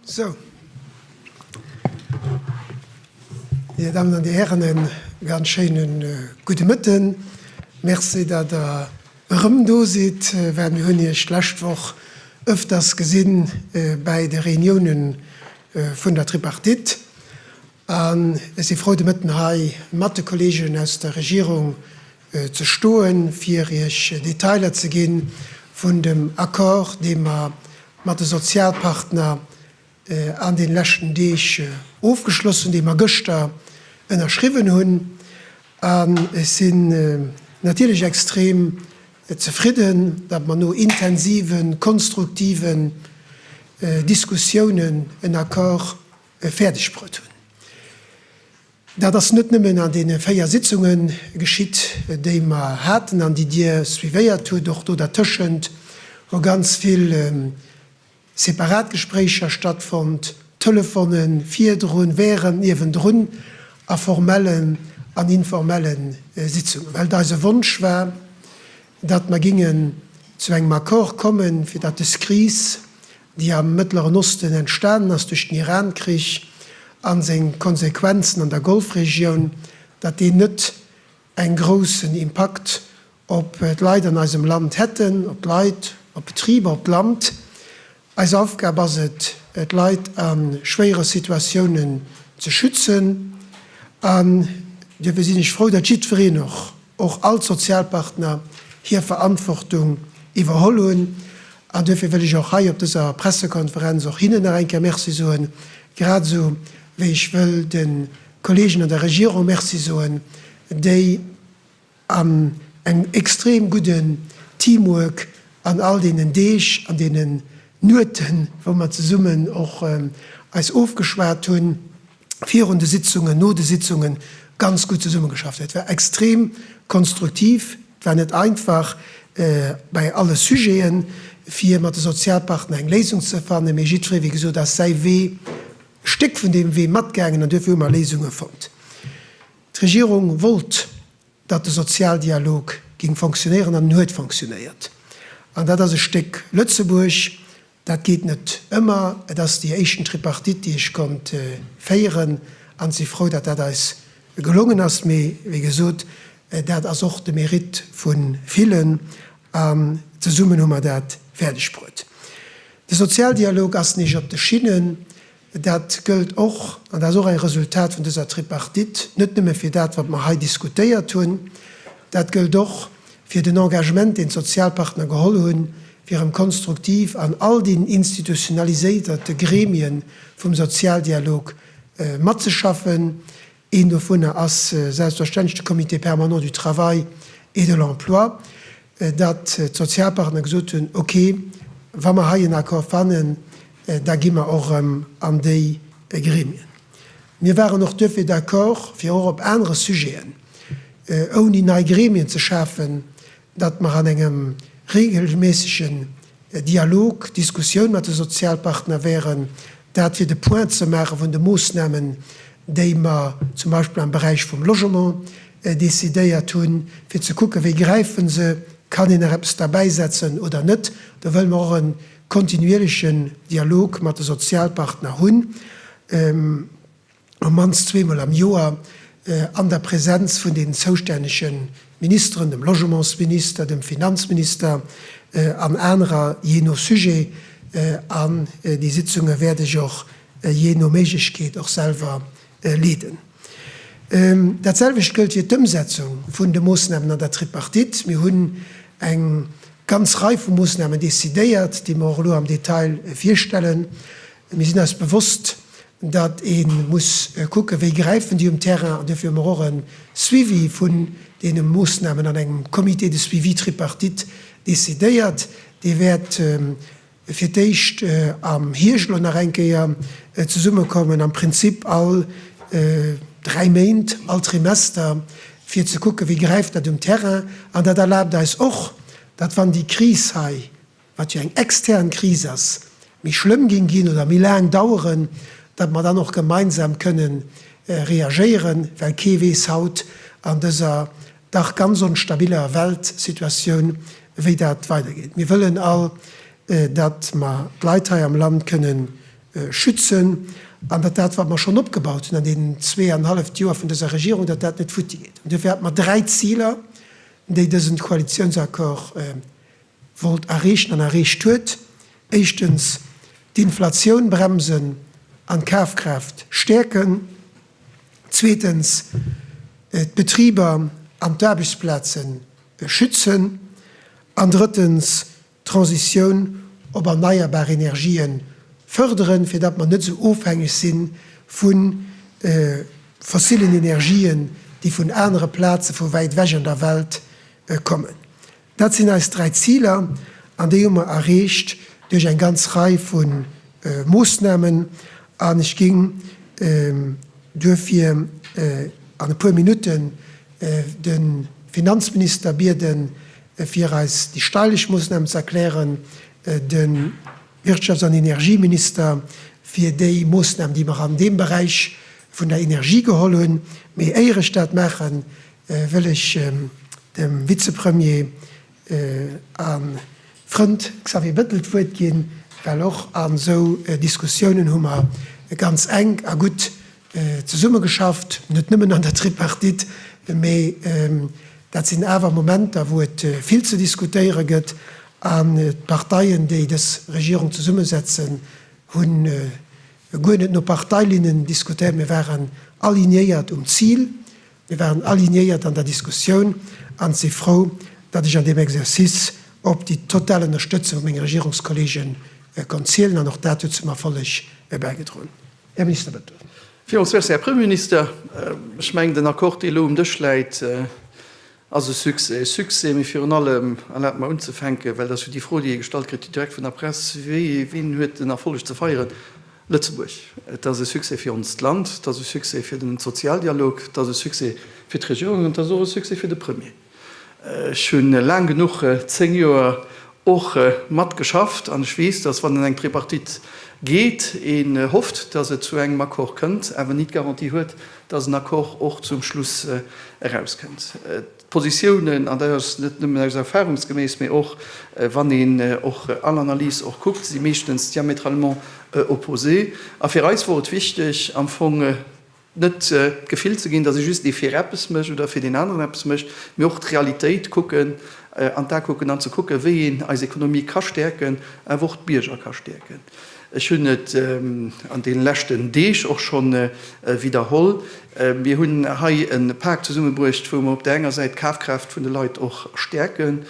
Sou, Dir Dammen an Dir Hären, e ganz schéine gudde Mëtten. Merci, datt Der erëm do sidd, well mir hunn Iech d'lescht Woch ëfters gesi bäi de Reunioune vun der Tripartite. An ech si frou, de Mëtten hei mat de Kolleegen aus der Regierung ze stoen, fir Iech Detailer ze gi vun dem Accord, dee mer mat de Sozialpartner an deene leschten Deeg ofgeschloss hunn, dee mer gëschter ënnerschriwwen hunn. An ech sinn natierlech extrem zefridden, datt mer no intensive konstruktiven Diskussiounen en Accord fäerdegbruet hunn. Dat ass net nëmmen an deene véier Sitzunge geschitt, déi mer haten an déi Dir suivéiert hutt. Och do dertëschent hu ganz vill separat Gespréicher stattfonnt, Telefonen, virdrun, während, niewendrun, a formellen an informelle Sitzungen, well et eise Wonsch war, datt mer géingen zu engem Accord kommen, fir datt de SCRIS déi am Mëttleren Osten entstanen ass duerch den Iran-Krich a seng Konsequenzen an der Golfregioun, datt déi net eng groussen Impakt op d'Leit an eisem Land hätten, op d'Leit, op d'Betriber, op d'Land. Eis Aufgab ass et, d'Leit a schwéiere Situatiounen ze schützen an duerfir sinn ech frou, datt jiddwereen och, och all d'Sozialpartner hir Verantwortung iwwerholl hunn. An duerfir wëll ech och hei op dëser Pressekonferenz och hinnen nach eng Kéier Merci soen, grad esou wéi ech wëll de Kolleegen an der Regierung Merci soen, déi an engem extrem gudden Teamwork an all deenen Deeg, an deenen Nueten, wou mer zesummen och eis ofgeschwat hunn, virun de Sitzungen, no de Sitzungen ganz gutt zesummegeschafft huet. Et war extrem konstruktiv. Et war net einfach bei alle Sujeten, fir mat de Sozialpartner eng Léisung ze fannen, mee jiddweree, wéi gesot, ass säi Wee, e Stéck vun deem Wee matgaangen an duerfir hu mer Léisunge fonnt. D'Regierung wollt, datt de Sozialdialog géing fonctionnéieren an en huet fonctionnéiert. An dat ass e Stéck Lëtzebuerg, Dat geet net ëmmer. Et ass déi éischten Tripartite, déi ech konnt féieren, an si frou, datt dat eis gelongen ass. Mee wéi gesot, dat ass och de Mérite vu villen, an zesummen hu mer dat fäerdegbruet. De Sozialdialog ass nich op de Schinnen. Dat gëllt och, an dat ass och e Resultat vun dëser Tripartite, net nëmme fir dat, wat mer hei diskutéiert hunn, dat gëllt och fir den Engagement, deen d'Sozialpartner geholl hunn, fir erëm konstruktiv an all den institutionaliséierte Gremien vum Sozialdialog matzeschaffen, Een dovunner ass selbstverständlech de Comité permanent du travail et de l'emploi, datt d'Sozialpartner gesot hunn, okay, wa mer hei en Accord fannen, da gi mer och erëm an déi Gremien. Mir waren och duerfir d'accord, fir och op anere Sujeten, ouni nei Gremien ze schafen, datt mer an engem regelméissege Dialog, Diskussioun mat de Sozialpartner wären, dat fir de Point ze maache vun de Moosnamen, déi mer zum Beispill am Beräich vum Logement decidéiert hunn, fir ze kucken, wéi gräife se, kann een nach eppes derbäisetzen oder net. Do wëlle mer och e kontinuierlechen Dialog mat de Sozialpartner hunn. op d'mannst zweemol am Joer an der Präsenz vun den zoustännege Ministeren, dem Logementsminister, dem Finanzminister an anerer, jee no Sujet. An déi Sitzunge wäert ech och jee no Méiglechkeet och selwer leeden. Dat selwecht gëllt fir d'Ëmsetzung vun de Moosnamen an der Tripartite. Mir hunn eng ganz Rei vu Moosnamen decidéiert, déi mer och elo am Detail virstellen. Mir sinn eis bewosst, datt ee muss kucken, wéi gräifen déi um Terrain, an duerfir hu mer och e Suivi vun deene Moossnamen an engem Comité de suivi tripartite decidéiert. Dee wäert fir d'éischt am Hierscht elo nach eng Kéier zesummekommen, am Prinzip all dräi Méint, all Trimester, fir ze kucken, wéi gräift dat um Terrain. An dat erlaabt eis och, datt, wann déi Kris hei wat jo eng extern Kris ass, méi schlëmm géing ginn oder méi laang daueren, datt mer dann och gemeinsam kënnen reagéieren, well kee weess haut an dëser dach ganz onstabiler Weltsituatioun, wéi dat weidergeet. Mir wëllen all, datt mer d'Leit hei am Land kënnen schützen an datt dat, wat mer schonn opgebaut hunn an deenen zweeanenhalleft Joer vun dëser Regierung, datt dat net futtigeet. An duerfir hat mer dräi Ziler, déi dësen Koalitiounsaccord wollt erreechen an erreecht huet, éischtens d'Inflatioun bremsen an d'Kafkraaft stäerken, zweetens d'Betriber an d'Aarbechtsplaze schützen an drëttens d'Transitioun op erneierbar Energien fërderen, fir datt mer net esou ofhängeg si vu fossillen Energien, déi vun anere Plaze vu wäit ewech an der Welt kommen. Dat sinn eis dräi Ziler, an déi hu mer erreecht duerch eng ganz Rei vu Moossnamen. An ech géing duerfir an e puer Minutten de Finanzminister bieden, fir eis déi steileg Moossnamen ze erklären, de Wirtschafts an Energieminister fir déi Moossnamen, déi mer an deem Beräich vun der Energie geholl hunn. Mee éier ech dat maachen, wëll ech dem Vizepremier a Frënd Xavier Bettel d'Wuert ginn, well och an esou Diskussiounen hu mer ganz enk a gutt zesummegeschafft, net nëmmen an der Tripartite, mee dat sinn awer Momenter, wou et vill ze diskutéiere gëtt. An d'Parteien, déi dës Regierung zesummesetzen, hu guer net no Parteilinnen diskutéiert, mee waren alignéiert um Zil, Mir waren alignéiert an der Diskussioun an si frou, datt ech an deem Exercice op déi total Ënnerstëtzung vu menge Regierungskolleege konnt zielen. An och dat huet zum Erfolleg bäigedroen. Här Minister, bëtt. Villmools Merci, Här Premierminister. Ech mengen, den Accord, dee elo um Dësch läit, ass e Succès. E Succès, mee virun allem, erlaabt mer unzefänken, well dat ass jo déi Fro, déi ee gestallt kritt, direkt vun der Press, Wien huet den Erfolleg ze feieren? Lëtzebuerg. Et ass e Succès fir onst Land, et ass e Succès fir den Sozialdialog, et ass e Succès fir d'Regierung an et ass och e Succès fir de Premier. Ech hu laang genuch, 10 Joer, och mat geschafft an ech weess, dass wann een eng Tripartite geet, een hofft, dass et zu engem Accord kënnt, awer ni d'Garantie huet, dass en Accord och zum Schluss eraus kënnt. Positiounen, an dat ass net nëmmen aus erfahrungsgemäss, mä och wann een och all Analyse och kuckt, si meeschtens diamétralement opposé. A fir eis wor et wichteg am Fong net d'Gefill ze ginn, datt ee just ee fir eppes mécht oder fir deen aneren eppes mécht, mä och d'Realitéit kucken, an d'A kucken an ze kucken, wéi een eis Ekonomie ka stäerken, awer och d'Bierger ka stäerken. Ech hunn et an deene leschten Deeg och schonn widderholl, Mir hunn hei e Pak zesummebruecht, wou mer op där enger Säit d'Kafkraaft vun de Leit och stäerken.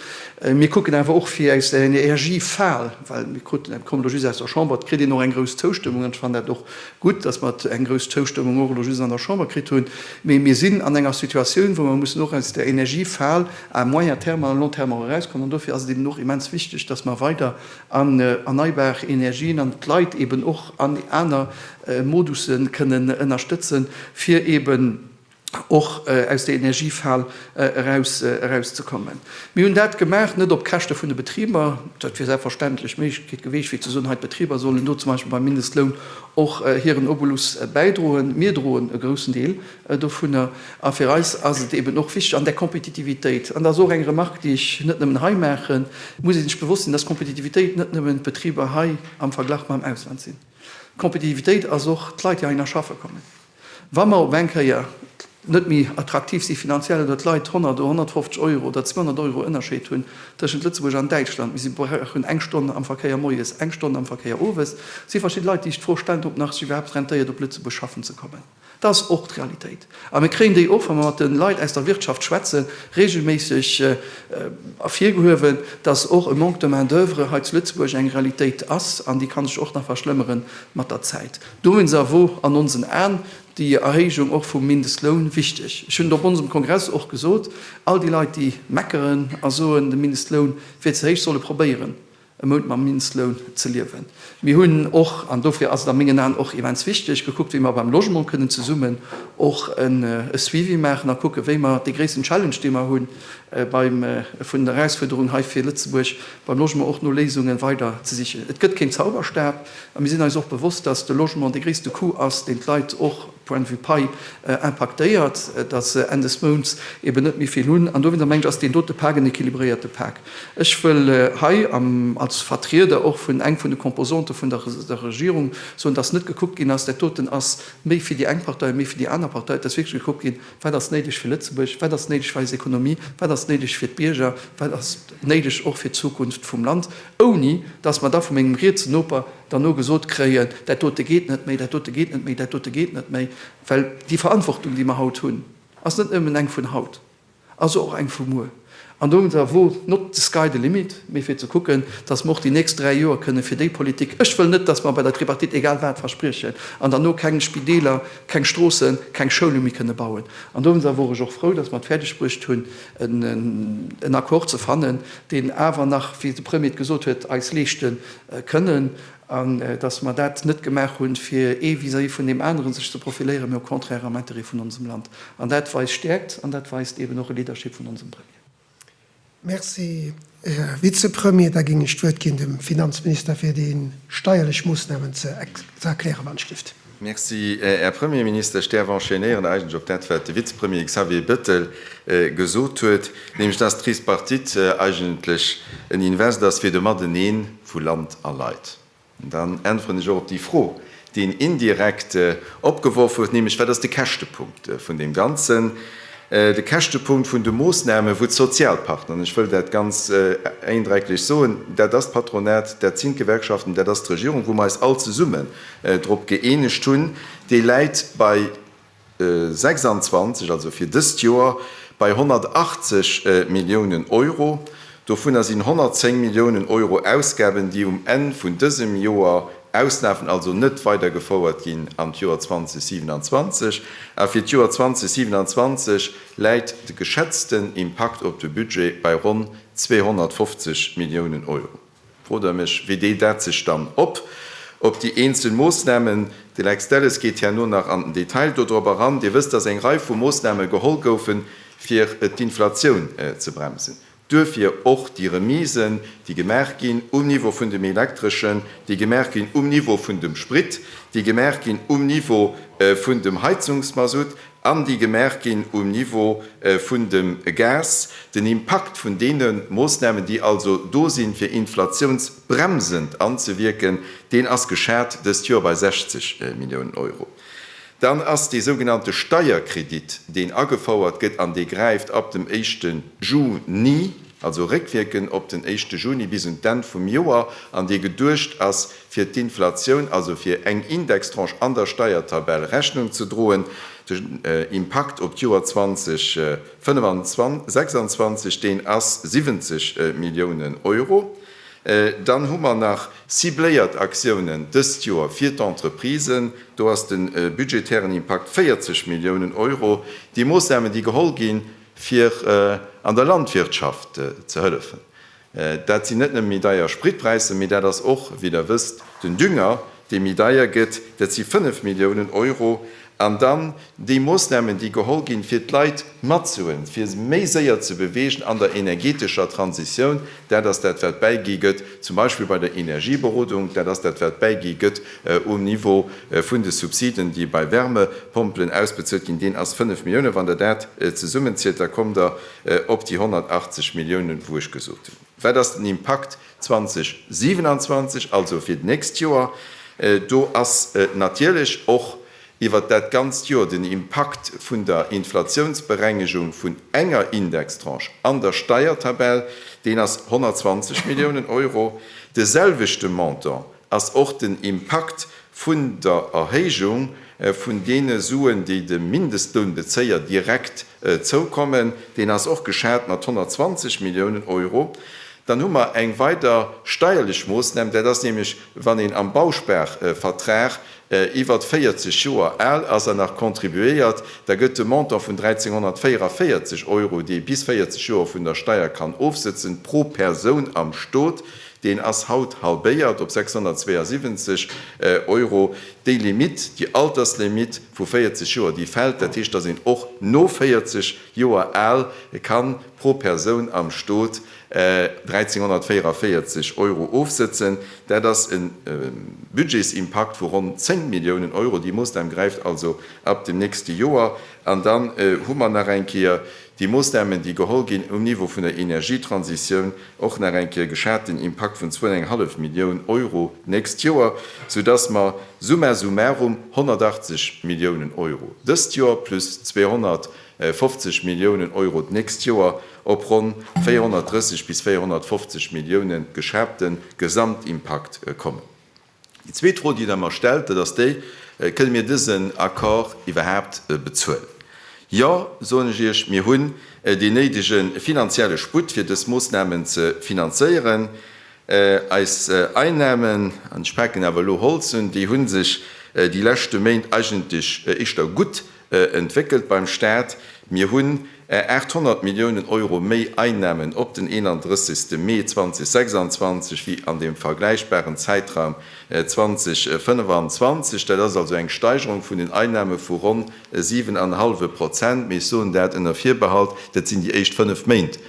Mir kucken awer och, fir aus der Energiefal, well mir kruten, et komm elo just aus der Chamber, et kritt een och eng grouss Zoustëmmung, an ech fannen dat och gutt, datt mer eng grouss Zoustëmmung och elo just an der Chamber kritt hunn, mee mir sinn an enger Situatioun, wou mer mussen och aus der Energiefal à moyen terme, à long terme och erauskommen. An dofir ass et eben och immens wichteg, datt mer weider an erneibar Energien an d'Leit eben och an aner Modusse kënnen ënnerstëtzen, fir eben och aus der Energiefal erauszekommen. Mir hunn dat gemaach, net op Käschte vun de Betriber, dat wier selbstverständlech d'Méiglechkeet gewiescht fir ze soen, hei d'Betriber sollen do zum Beispill beim Mindestloun och hiren Obolus bäidroen. Mir droen e groussen Deel Dovunner, a fir eis ass et eben och wichteg an där Kompetitivitéit, an dat ass och eng Remarque, déi ech net nëmmen hei maachen, muss ee sech bewosst sinn, dass Kompetitivitéit net nëmmen d'Betriber hei am Verglach mam Ausland sinn. Kompetitivitéit ass och d'Leit, déi heihinner schaffe kommen. Wa mer op eng Kéier net méi attraktiv si finanziell oder d'Leit 100 oder 150 Euro oder 200 Euro Ënnerscheed hunn tëschent Lëtzebuerg an Däitschland, mee si brauchen eng Stonn am Verkéier moies, eng Stonn am Verkéier owes, si verschidde Leit, déi sech d'Fro stellen, ob nach sech iwwerhaapt rentéiert, op Lëtzebuerg schaffen ze kommen. Dat ass och d'Realitéit. A mir kréien déi och, wa mer mat de Leit aus der Wirtschaft schwätzen, reegelméisseg ervirgehuewen, dass och e Manque de main d'oeuvre hei zu Lëtzebuerg eng Realitéit ass. An déi ka sech och nach verschlëmmere mat der Zäit. Dowéinster wor an onsen Aen déi Erhéijung och vum Mindestloun wichteg. Ech hunn et op onsem Kongress och gesot, All déi Leit, déi meckeren a soen, de Mindestloun wier ze héich, solle probéieren, e Mount mam Mindestloun ze liewen. Mir hunn och, an dofir ass et a mengen Aen och immens wichteg, gekuckt, wéi mer beim Logement kënnen zesummen och e Suivi maachen a kucken, wéi mer dee gréissten Challenge, dee mer hu beim vun den Erausfuerderungen hei fir Lëtzebuerg beim Logement, och no Léisunge weider ze sichen. Et gëtt keen Zauberstab a mir sinn eis och bewosst, dass de Logement dee gréisste Coût ass, deen d'Leit och, Point de vue Pai impaktéiert, datt se Enn des Mounts eben net méi vill hunn. An dowéinter mengen ech, ass deen dote Pak en équilibréierte Pak. Ech wëll hei am als Vertrieder och vun eng vun de Composante vun der der Regierung soen, datt net gekuckt ginn ass, dat doten ass méi fir déi eng Partei, méi fir déi aner Partei. Et ass wierklech gekuckt ginn, Wat ass néideg fir Lëtzebuerg? Wat ass néideg fir eis Économie? Wat ass néideg fir d'Bierger? Wat ass néideg och fir d'Zukunft vum Land? Ouni datt mer da vum mengem rietse Noper Derno gesot kréien, dat dote geet net méi, dat dote geet net méi, dat dote geet net méi. Well déi Verantwortung, déi mer haut hunn, ass net nëmmen eng vun haut, ass och eng vu muer. An do hunn se erwo not the sky the limit, mee fir ze kucken, dass mer och déi nächst dräi Joer kënnen fir déi Politik, ech wëll net, dass mer bei der Tripartite egal wat verspriechen an derno keng Spideeler, keng Stroossen, keng Schoule méi kënne bauen. An do hunn se, wor ech och frou, dass mer et fäerdeg bruecht hunn, en Accord ze fannen, deen awer nach, wéi de Premier et gesot huet, eis Leeschten Kënnen, an dass mer dat net gemaach hunn, fir ee vis-à-vis vun deem aneren sech ze profiléieren, mä au contraire am Intérêt vun onsem Land. An dat weist Stäerkt an dat weist eeben och e Leadership vun onsem Premier. Merci, Här Vizepremier. Da géing ech d'Wuert ginn dem Finanzminister, fir déi steierlech Moosnamen ze erklären, wann et schléift. Merci, Här Premierminister. Ech däerf enchaînéieren eigentlech op dat, wat de Vizepremier Xavier Bettel gesot huet, nämlech dass d'Tripartite eigentlech en Invest ass fir de Mateneen vu Land a Leit. An dann äntweren ech och op déi Fro, déi en indirekt opgeworf huet, nämlech wat ass de Käschtepunkt vun deem Ganzen, de Käschtepunkt vun de Moosnamen, wou d'Sozialpartner, an ech wëll dat ganz eindrecklech soen, dat ass d'Patronat, dat sinn d'Gewerkschaften, dat ass d'Regierung, wou mer eis all zesummen drop gëeenegt hunn, dee läit bei 26, also fir dëst Joer bei 180 Milliounen Euro. Dovunner sinn 110 Milliounen Euro Ausgaben, déi um Enn vun dësem Joer auslafen, also net weidergefouert ginn an d'Joer 2027. A fir d'Joer 2027 läit de geschätzten Impakt op de Budget bei ronn 250 Milliounen Euro. Fro der mech, wéi deelt dat sech dann op op déi eenzel Moossnamen? De Lex Delles geet herno nach an den Detail dodrop eran. Dir wësst, dass eng Rei vu Moossname geholl goufen, fir d'Inflatioun ze bremsen. Duerfir och déi Remisen, déi gemaach ginn um Niveau vun dem Elektreschen, déi gemaach ginn um Niveau vun dem Sprit, déi gemaach ginn um Niveau vun dem Heizungsmasutt. an déi gemaach ginn um Niveau vun dem Gas, den Impakt vun deene Moossnamen, déi also do sinn, fir inflationsbremsend anzewierken, deen ass geschat dëst Joer bei 60 Milliounen Euro. Dann ass dee sougenannte Steierkredit, deen agefouert gëtt an dee gräift ab dem éischte Juni, also réckwierkend op den éischte Juni bis un d'Enn vum Joer, an dee geduecht ass, fir d'Inflatioun, also fir eng Indextranche an der Steiertabell, Rechnung ze droen. Den Impakt op d'Joer 2026, deen ass 70 Milliounen Euro. Dann hu mer nach. Cibléiert Aktiounen dëst Joer fir d'Entreprisen. Do ass de budgetären Impakt 40 Milliounen Euro. Déi Moossnamen, déi geholl ginn, fir an der Landwirtschaft ze hëllefen. Dat sinn net nëmme méi deier Spritpräisser, mee dat ass och, wéi Der wësst, den Dünger, dee méi deier gëtt. Dat si fënnef Milliounen Euro. An dann déi Moosnamen, déi geholl ginn, fir d'Leit matzuhuelen, fir se méi séier ze beweegen an der energeetescher Transitioun. Dat ass dat, wat bäigi gëtt. zum Beispill bei der Energieberodung, dat ass dat wat bäigi gëtt um Niveau vun de Subsiden, déi bei Wärmepompelen ausbezuelt ginn, deen ass 5 Milliounen. Wann Der dat zesummenzielt, da kommt Der op déi 180 Milliounen, wou ech gesot hunn, wat ass den Impakt 2027, also fir d'nächst Joer. Do ass natierlech och iwwert dat ganzt Jor den Impakt vun der Inflatiounsberengegung vun enger Indextranche an der Steiertabell, deen ass 120 Milliounen Euro. De selwechte Montant ass och den Impakt vun der Erhéijung vun deene Suen, déi de Mindestlounbezéier direkt zoukommen, deen ass och geschat mat 120 Milliounen Euro. Dann hu mer eng weider steierlech Moosnam, dat ass nämlech, wann een am Bausparvertrag iwwert 40 Joer al ass an nach contribuéiert, da gëtt de Montant vun 1.344 Euro, déi ee bis 40 Joer vun der Steier kann ofsëtzen, pro Persoun am Stot, deen ass haut halbéiert op 672 Euro. Déi Limitt, déi Alterslimitt vu 40 Joer, déi fält. Dat heescht, dass een och no 40 Joer al ka pro Persoun am Stot 1.344 Euro ofsëtzen. Dat ass e Budgetsimpakt vu ronn 10 Milliounen Euro. Déi Moossnam gräift also ab dem nächste Joer. An dann hu mer nach eng Kéier déi Moossnamen, déi geholl ginn um Niveau vun der Energietransitioun, och nach eng Kéier geschaten Impakt vun zwou an eng hallef Millioun Euro d'nächst Joer, soudass mer summa summarum 180 Milliounen Euro dëst Joer plus 200 50 Milliounen Euro d'nächst Joer, op ronn 430 bis 450 Milliounen geschraapte Gesamtimpakt kommen. Déi zweet Fro, déi Der mer stellt, dat ass déi, Kënne mir dësen Accord iwwerhaapt bezuelen? Jo, soen ech Iech, mir hunn deen néidege finanzielle Sputt, fir dës Moossnamen ze finanzéieren. Eis Einnahmen, an ech paken awer elo Holz un, déi hu sech déi leschte Méint eigentlech éischter gutt entwéckelt beim Staat. Mir hunn 800 Milliounen Euro méi Einnahmen op den 31. Mee 2026 wéi an deem vergläichbaren Zäitraum 2025. Dat ass also eng Steigerung vun den Einnahme vu ronn e siwen an e hallwe Prozent. Mee ech soen dat ënner Virbehalt, dat sinn déi éischt fënnef Méint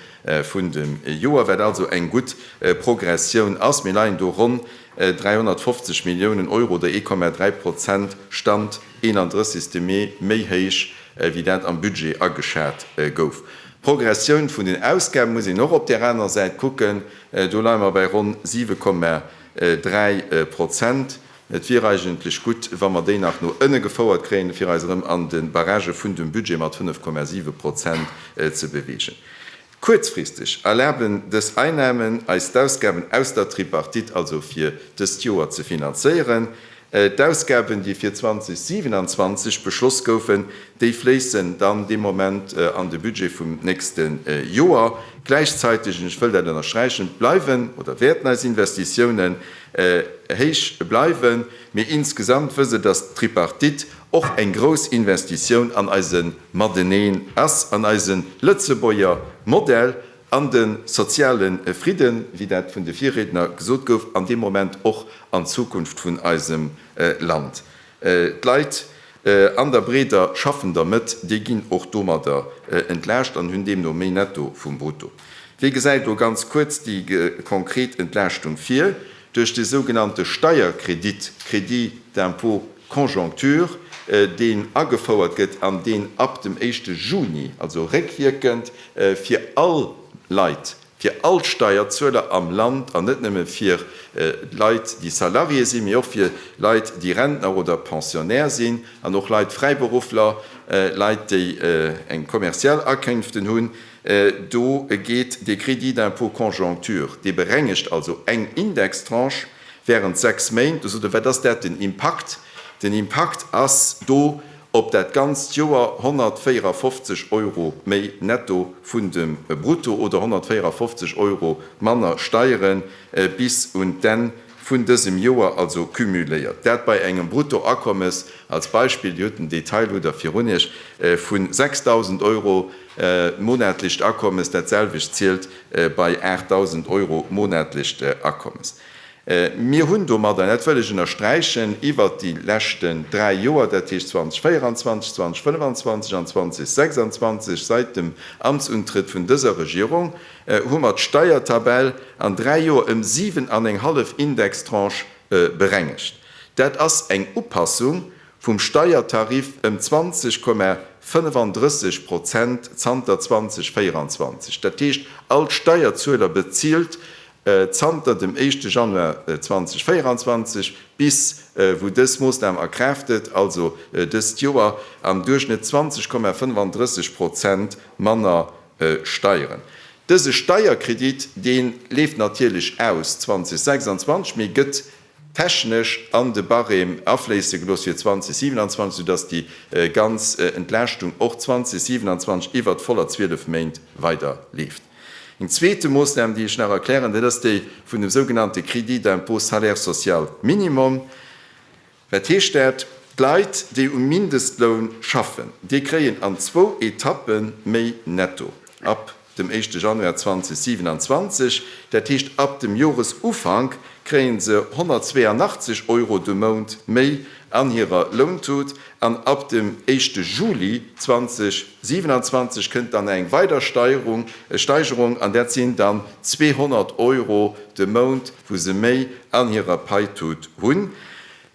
vun dem Joer, wat also eng gutt Progressioun ass. Mir leien do ronn 350 Milliounen Euro, der 1,3 Prozent, Stand 31 Mee, méi héich wéi dat am Budget ageschat gouf. D'Progressioun vun den Ausgabe muss een och op där aner Säit kucken. Do leie mer bei ronn 7,3 Prozent. Et wier eigentlech gutt, wa mer déi nach no ënne gefouert kréien, fir eis erëm an de Barrage vun dem Budget mat 5,7 Prozent ze beweegen. Kuerzfristeg erlaben dës Einnahmen eis d'Ausgaben aus der Tripartite also fir dëst Joer ze finanzéieren. D'Ausgaben, déi fir 2027 beschloss goufen, déi fléissen dann dee Moment an de Budget vum nächste Joer. Gläichzäiteg, an ech wëll dat ënnersträichen, bleiwen oder wäerten eis Investitiounen héich bleiwen. Mee insgesamt wësse, dass d'Tripartite, Och eng grouss Investitioun an eise Mateneen ass an eise Lëtzebuerger Modell an de soziale Fridden, wéi dat vun de Virriedner gesot gouf, an deem Moment och an d'Zukunft vun eisem Land. D'Leit an der breeder schaffender Mëtt, déi ginn och domadder entlaascht an hunn deemno méi Netto vum Brutto. Wee gesäit do ganz kuerz déi konkret Entlaaschtung vir? Duerch de sougenannte Steierkredit, Crédit d'impôt, Conjoncture, deen agefouert gëtt an deen ab dem éischte Juni, also réckwierkend fir all Leit, fir all Steierzueler am Land an net nëmme fir Leit, déi Salarié sinn, mee och fir Leit, déi Rentner oder Pensionnaire sinn, an och Leit, Fräiberuffler, Leit, déi eng kommerziell Akénften hunn, do geet dee Crédit d'impôt conjoncture, dee berengegt also eng Indextranche, Während sechs Méint, du sot e, wat ass dat den Impakt? Den Impakt ass do op dat ganzt Joer 154 Euro méi netto vun dem Brutto oder 154 Euro manner Steiere bis un d'Enn vun dësem Joer, also cumuléiert. Dat bei engem Bruttoakommes, als Beispill, Dir hutt den Detail, hutt Der virun Iech, vu 6.000 Euro, monatlecht Akommes, dat selwecht zielt bei 8.000 Euro monatlecht Akommes. Mir hunn domadder, an dat wëll ech ënnersträichen, iwwert déi leschten dräi Joer, dat heescht 2024, 2025 an 2026, säit dem Amtsuntrëtt vun dëser Regierung, hu mer d'Steiertabell an dräi Joer ëm siwen an eng hallef Indextranche berengegt. Dat ass eng Upassung vum Steiertariff ëm 20,35 Prozent zanter 2024. Dat heescht, all Steierzueler bezilt zanter dem éischte Januar 2024, bis wou dës Moossnam a Kraaft trëtt, also dëst Joer, am Duerchschnëtt 20,35 Prozent manner Steieren. Dëse Steierkredit, dee leeft natierlech aus 2026, mee gëtt technesch an de Barème afléisse gelooss fir 2027, soudass déi ganz Entlaaschtung och 2027 iwwert d'voller 12 Méint weider leeft. Eng zweete Moossnam, déi ech nach erklären, dat ass déi vun dem sougenannte Crédit d'impôt salaire social minimum. Wat heescht dat? D'Leit, déi um Mindestloun schaffen, déi kréien an zwou Etappe méi netto ab dem éischte Januar 2027, dat heescht ab dem Joresufank, kréie se 182 Euro de Mount méi an hirer Lountut an ab dem éischte Juli 2027 kënnt dann eng weider Steierung, Steigerung, an dat sinn dann 200 Euro de Mount, wou se méi an hirer Paitut hunn.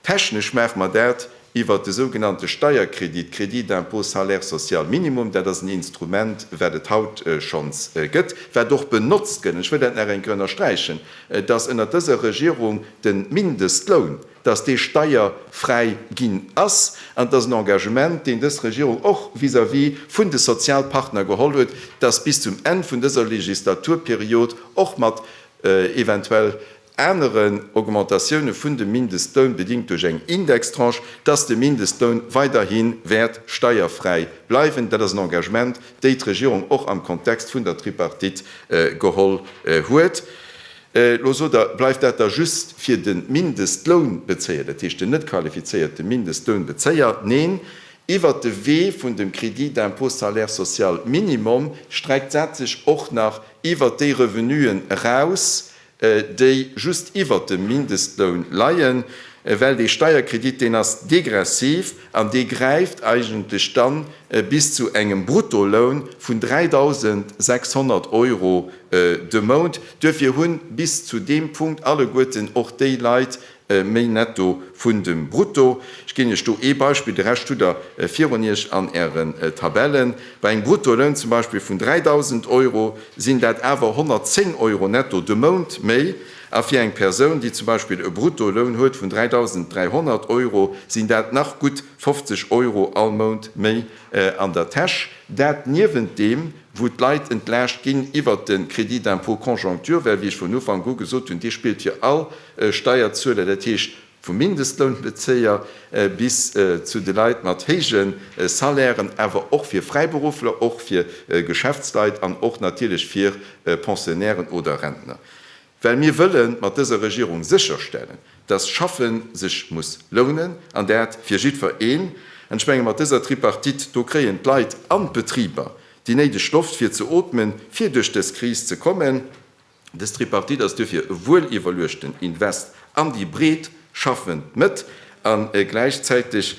Technesch maache mer dat iwwert de sougenannte Steierkredit, Crédit d'impôt salaire social minimum. Dat ass en Instrument, wat et haut schonns gëtt, wat och benotzt gëtt, an ech wëll dat nach eng Kéier ënnersträichen, dass ënnert dëser Regierung de Mindestloun, dass dee steierfräi ginn ass. An et ass en Engagement, deen dës Regierung och vis-à-vis vun de Sozialpartner geholl huet, dass bis zum Enn vun dëser Legislaturperiod och mat eventuell, aneren Augmentatioune vun de Mindestloun, bedingt duerch eng Indextranche, dass de Mindestloun weiderhi wäert steierfräi bleiwen. Dat ass en Engagement, déi d'Regierung och am Kontext vun der Tripartite geholl huet. Elo sot Der, bleift dat da just fir de Mindestlounbezéier, dat heescht den net qualifizéierte Mindestlounbezéier? Neen, iwwert de Wee vun dem Crédit d'impôt salaire social minimum streckt dat sech och nach iwwert déi Revenuen eraus, déi just iwwert dem Mindestloun leien, well dee Steierkredit, deen ass degressiv an dee gräift eigentlech dann bis zu engem Bruttoloun vun 3.600 Euro de Mount. Duerfir hunn bis zu deem Punkt alleguerten och déi Leit, méi netto vun dem brutto. Ech ginn Iech do ee Beispill, de Rescht hutt Der virun Iech an Ären Tabellen. Bei engem Bruttoloun zum Beispill vun 3.000 Euro sinn dat awer 110 Euro netto de Mount méi a fir eng Persoun, déi zum Beispill e Bruttoloun huet vun 3.300 Euro, sinn dat nach gutt 50 Euro all Mount méi an der Täsch. Dat niewent deem, wou d'Leit entlaascht ginn iwwert de Crédit d'impôt conjoncture, well, wéi ech vun Ufank u gesot hunn, dee spillt fir all Steierzueler, dat heescht vum Mindestlounbezéier bis zu de Leit mat héije Salairen, awer och fir Fräiberuffler, och fir Geschäftsleit an och natierlech fir Pensionnairen oder Rentner. Well mir wëlle mat dëser Regierung sécherstellen, dass Schaffe sech muss lounen, an dat fir jiddwereen. An ech menge mat dëser Tripartite, do kréien d'Leit an d'Betriber déi néideg Loft fir ze ootmen, fir duerch dës Kris ze kommen. Dës Tripartite ass duerfir e wueliwwerluechten Invest an déi breet schaffend Mëtt. A gläichzäiteg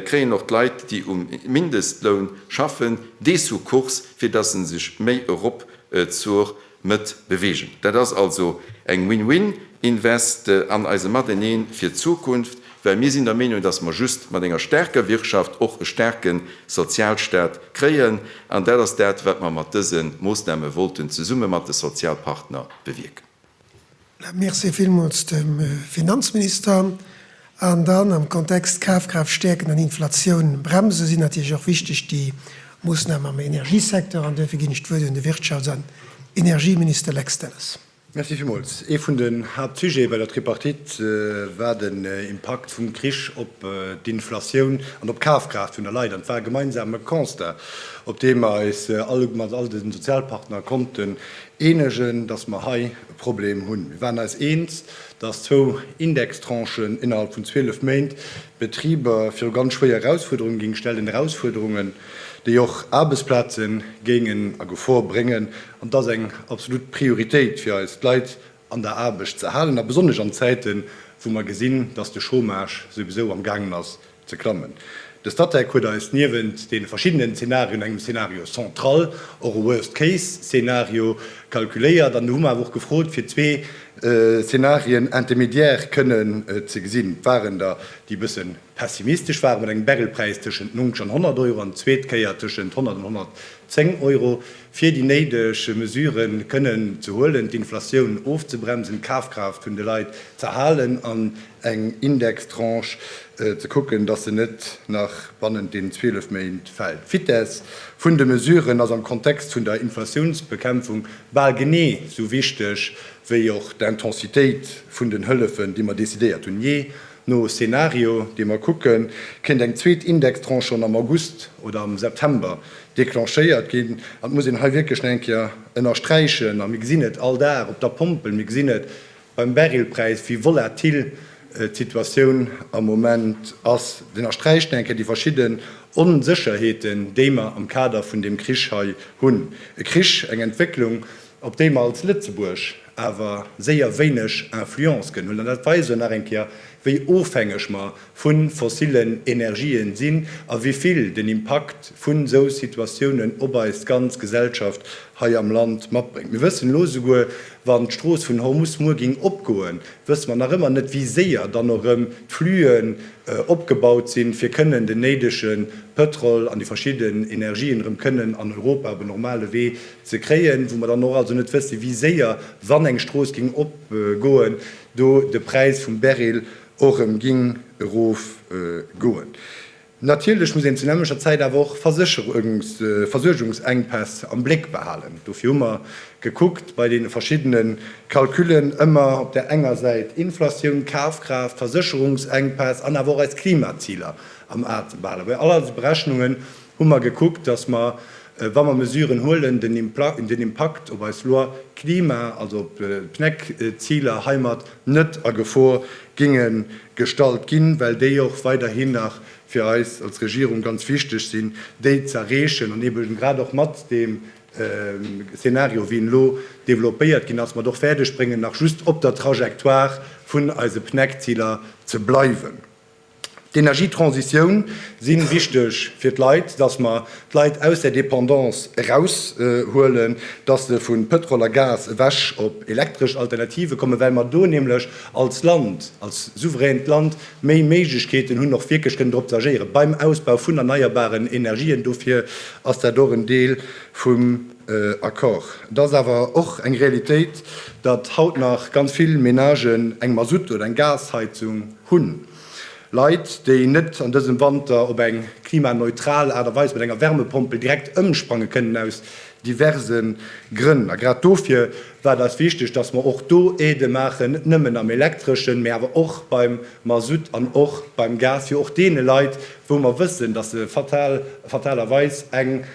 kréien och d'Leit, déi um Mindestloun schaffen, dee Sukkurs, fir dass se sech méi erop zur Mëtt beweegen. Dat ass also eng Win-Win Invest an eise Mateneen fir d'Zukunft, well mir sinn der Meenung, dass mer just mat enger staarker Wirtschaft och e staarke Sozialstaat kréien. An dat ass dat, wat mer mat dëse Moosname wollten zesumme mat de Sozialpartner bewierken. Merci villmools dem Finanzminister. An dann am Kontext Kafkraaft stäerken an Inflatioun bremsen sinn natierlech och wichteg déi Moossnamen am Energiesecteur. An duerfir ginn ech d'Wuert un de Wirtschafts an Energieminister Lex Delles. Merci villmools. Ee vun den Haaptsujete bei der Tripartite war den Impakt vum Krich op d'Inflatioun an op d'Kafkraaft vun de Leit. An et war e gemeinsame Constat, op deem mer eis mat all de Sozialpartner konnten eenegen, dass mer hei, Problem hunn. Mir waren eis eens, dass zwou Indextranchen innerhalb vun 12 Méint d'Betriber viru ganz schwéier Erausfuerderunge géing stellen, Erausfuerderungen, déi och Aarbechtsplaze géingen a Gefor bréngen. An et ass eng absolut Prioritéit fir eis, d'Leit an der Aarbecht ze halen, a besonnesch an Zäiten, wou mer gesinn, dass de Chômage souwisou am gaangen ass ze klammen. De Statec huet eis niewent deene verschiddenen Zenarioen, engem Scenario central, och e Worst Case Scenario kalkuléiert an do hu mer awer och gefrot fir zwee Szenarien intermédiaires kënnen ze gesinn. Et waren der déi e bësse pessimistesch waren, mat engem Barrelpräis tëschent 90 an 100 Euro an zweet Kéier tëschent 100 an 110 Euro, fir déi néideg Mesurë kënnen ze huelen, d'Inflatioun ofzebremsen, d'Kafkraaft vun de Leit z'erhalen an eng Indextranche ze kucken, dass se net nach bannent deenen 12 Méint fält. D'Vitesse vun de Mesuren ass am Kontext vun der Inflatiounsbekämpfung bal genee esou wichteg wéi och d'Intensitéit vun den Hëllefen, déi mer decidéiert hunn. Jee no Szenario, dee mer kucken, kéint eng zweet Indextranche schonn am August oder am September declenchéiert ginn. An et muss een hei wierklech nach eng Kéier ënnersträichen, a mir gesinn et all Dag op der Pompel, mir gesinn et, Beim Barrelpräis, wéi volatil d'Situatioun am Moment ass, den ersträicht nach eng Kéier déi verschidde Onsécherheeten, déi mer am Kader vun deem Krich hei hunn. E Krich, eng Entwécklung, op déi mer als Lëtzebuerg awer séier wéineg Influence kënnen hunn. An dat weist och nach eng Kéier, wéi ofhängeg mer vu fossillen Energien sinn a wivill den Impakt vun esou Situatiounen op eis ganz Gesellschaft hei am Land matbréngt. Mir wëssen elo, esouguer wann d'Strooss vun Hormus muer géing opgoen, wësse mer nach ëmmer net, wéi séier dann och erëm d'Flüen opgebaut sinn, fir kënnen den néidege Pëtrol an déi verschidden Energien erëm kënnen an Europa op en normale Wee ze kréien, wou mer dann och also net wësse wéi séier, wann eng Strooss géing opgoen, do de Präis vum Beryl och erëm ging erof goen. Natierlech muss een zu nämmlecher Zäit awer och Versuergungsengpäss am Bléck behalen. Dofir hu mer gekuckt bei deene verschiddene Calculen ëmmer op där enger Säit Inflatioun, Kafkraaft, Versécherungsengpäss an awer och eis Klimaziler am A ze behalen, well all eis Berechnungen hu mer gekuckt, dass mer, wa mer Mesuren huelen, den Impakt op eis Loi Klima, also op d'PNEC-Ziler heimat, net a Gefor géinge gestallt ginn, well déi och weiderhin nach fir eis als Regierung ganz wichteg sinn, déi z'erreechen an eben grad och mat deem Szenario, wéi en elo développéiert ginn ass, mat och fäerdegbréngen, nach just op der Trajectoire vun eise PNEC-Ziler ze bleiwen. D'Energietransitioun si wichteg fir d'Leit, dass mer d'Leit aus der Dependance eraushuelen, dass se vu Pëtrol a Gas ewech op elektresch Alternative kommen, well mer do nämlech als Land, als souveränt Land méi Méiglechkeeten hunn, och wierklech kënnen dorop ze agéieren beim Ausbau vun erneierbaren Energien. Dofir ass dat och en Deel vum Accord. Et ass awer och eng Realitéit, datt haut nach ganz vill Menagen eng Mazout oder eng Gasheizung, Hunn. Leit, déi net an dësem Wanter op eng klimaneutral Aart a Weis mat enger Wärmepompel direkt ëmsprange kënnen, aus diverse Grënn. A grad dofir war et eis wichteg, dass mer och do Aidë maachen, net nëmmen am Elektreschen, mä awer och beim Masutt an och beim Gas, fir och deene Leit, wou mer wëssen, dass se fatal, fatalerweis eng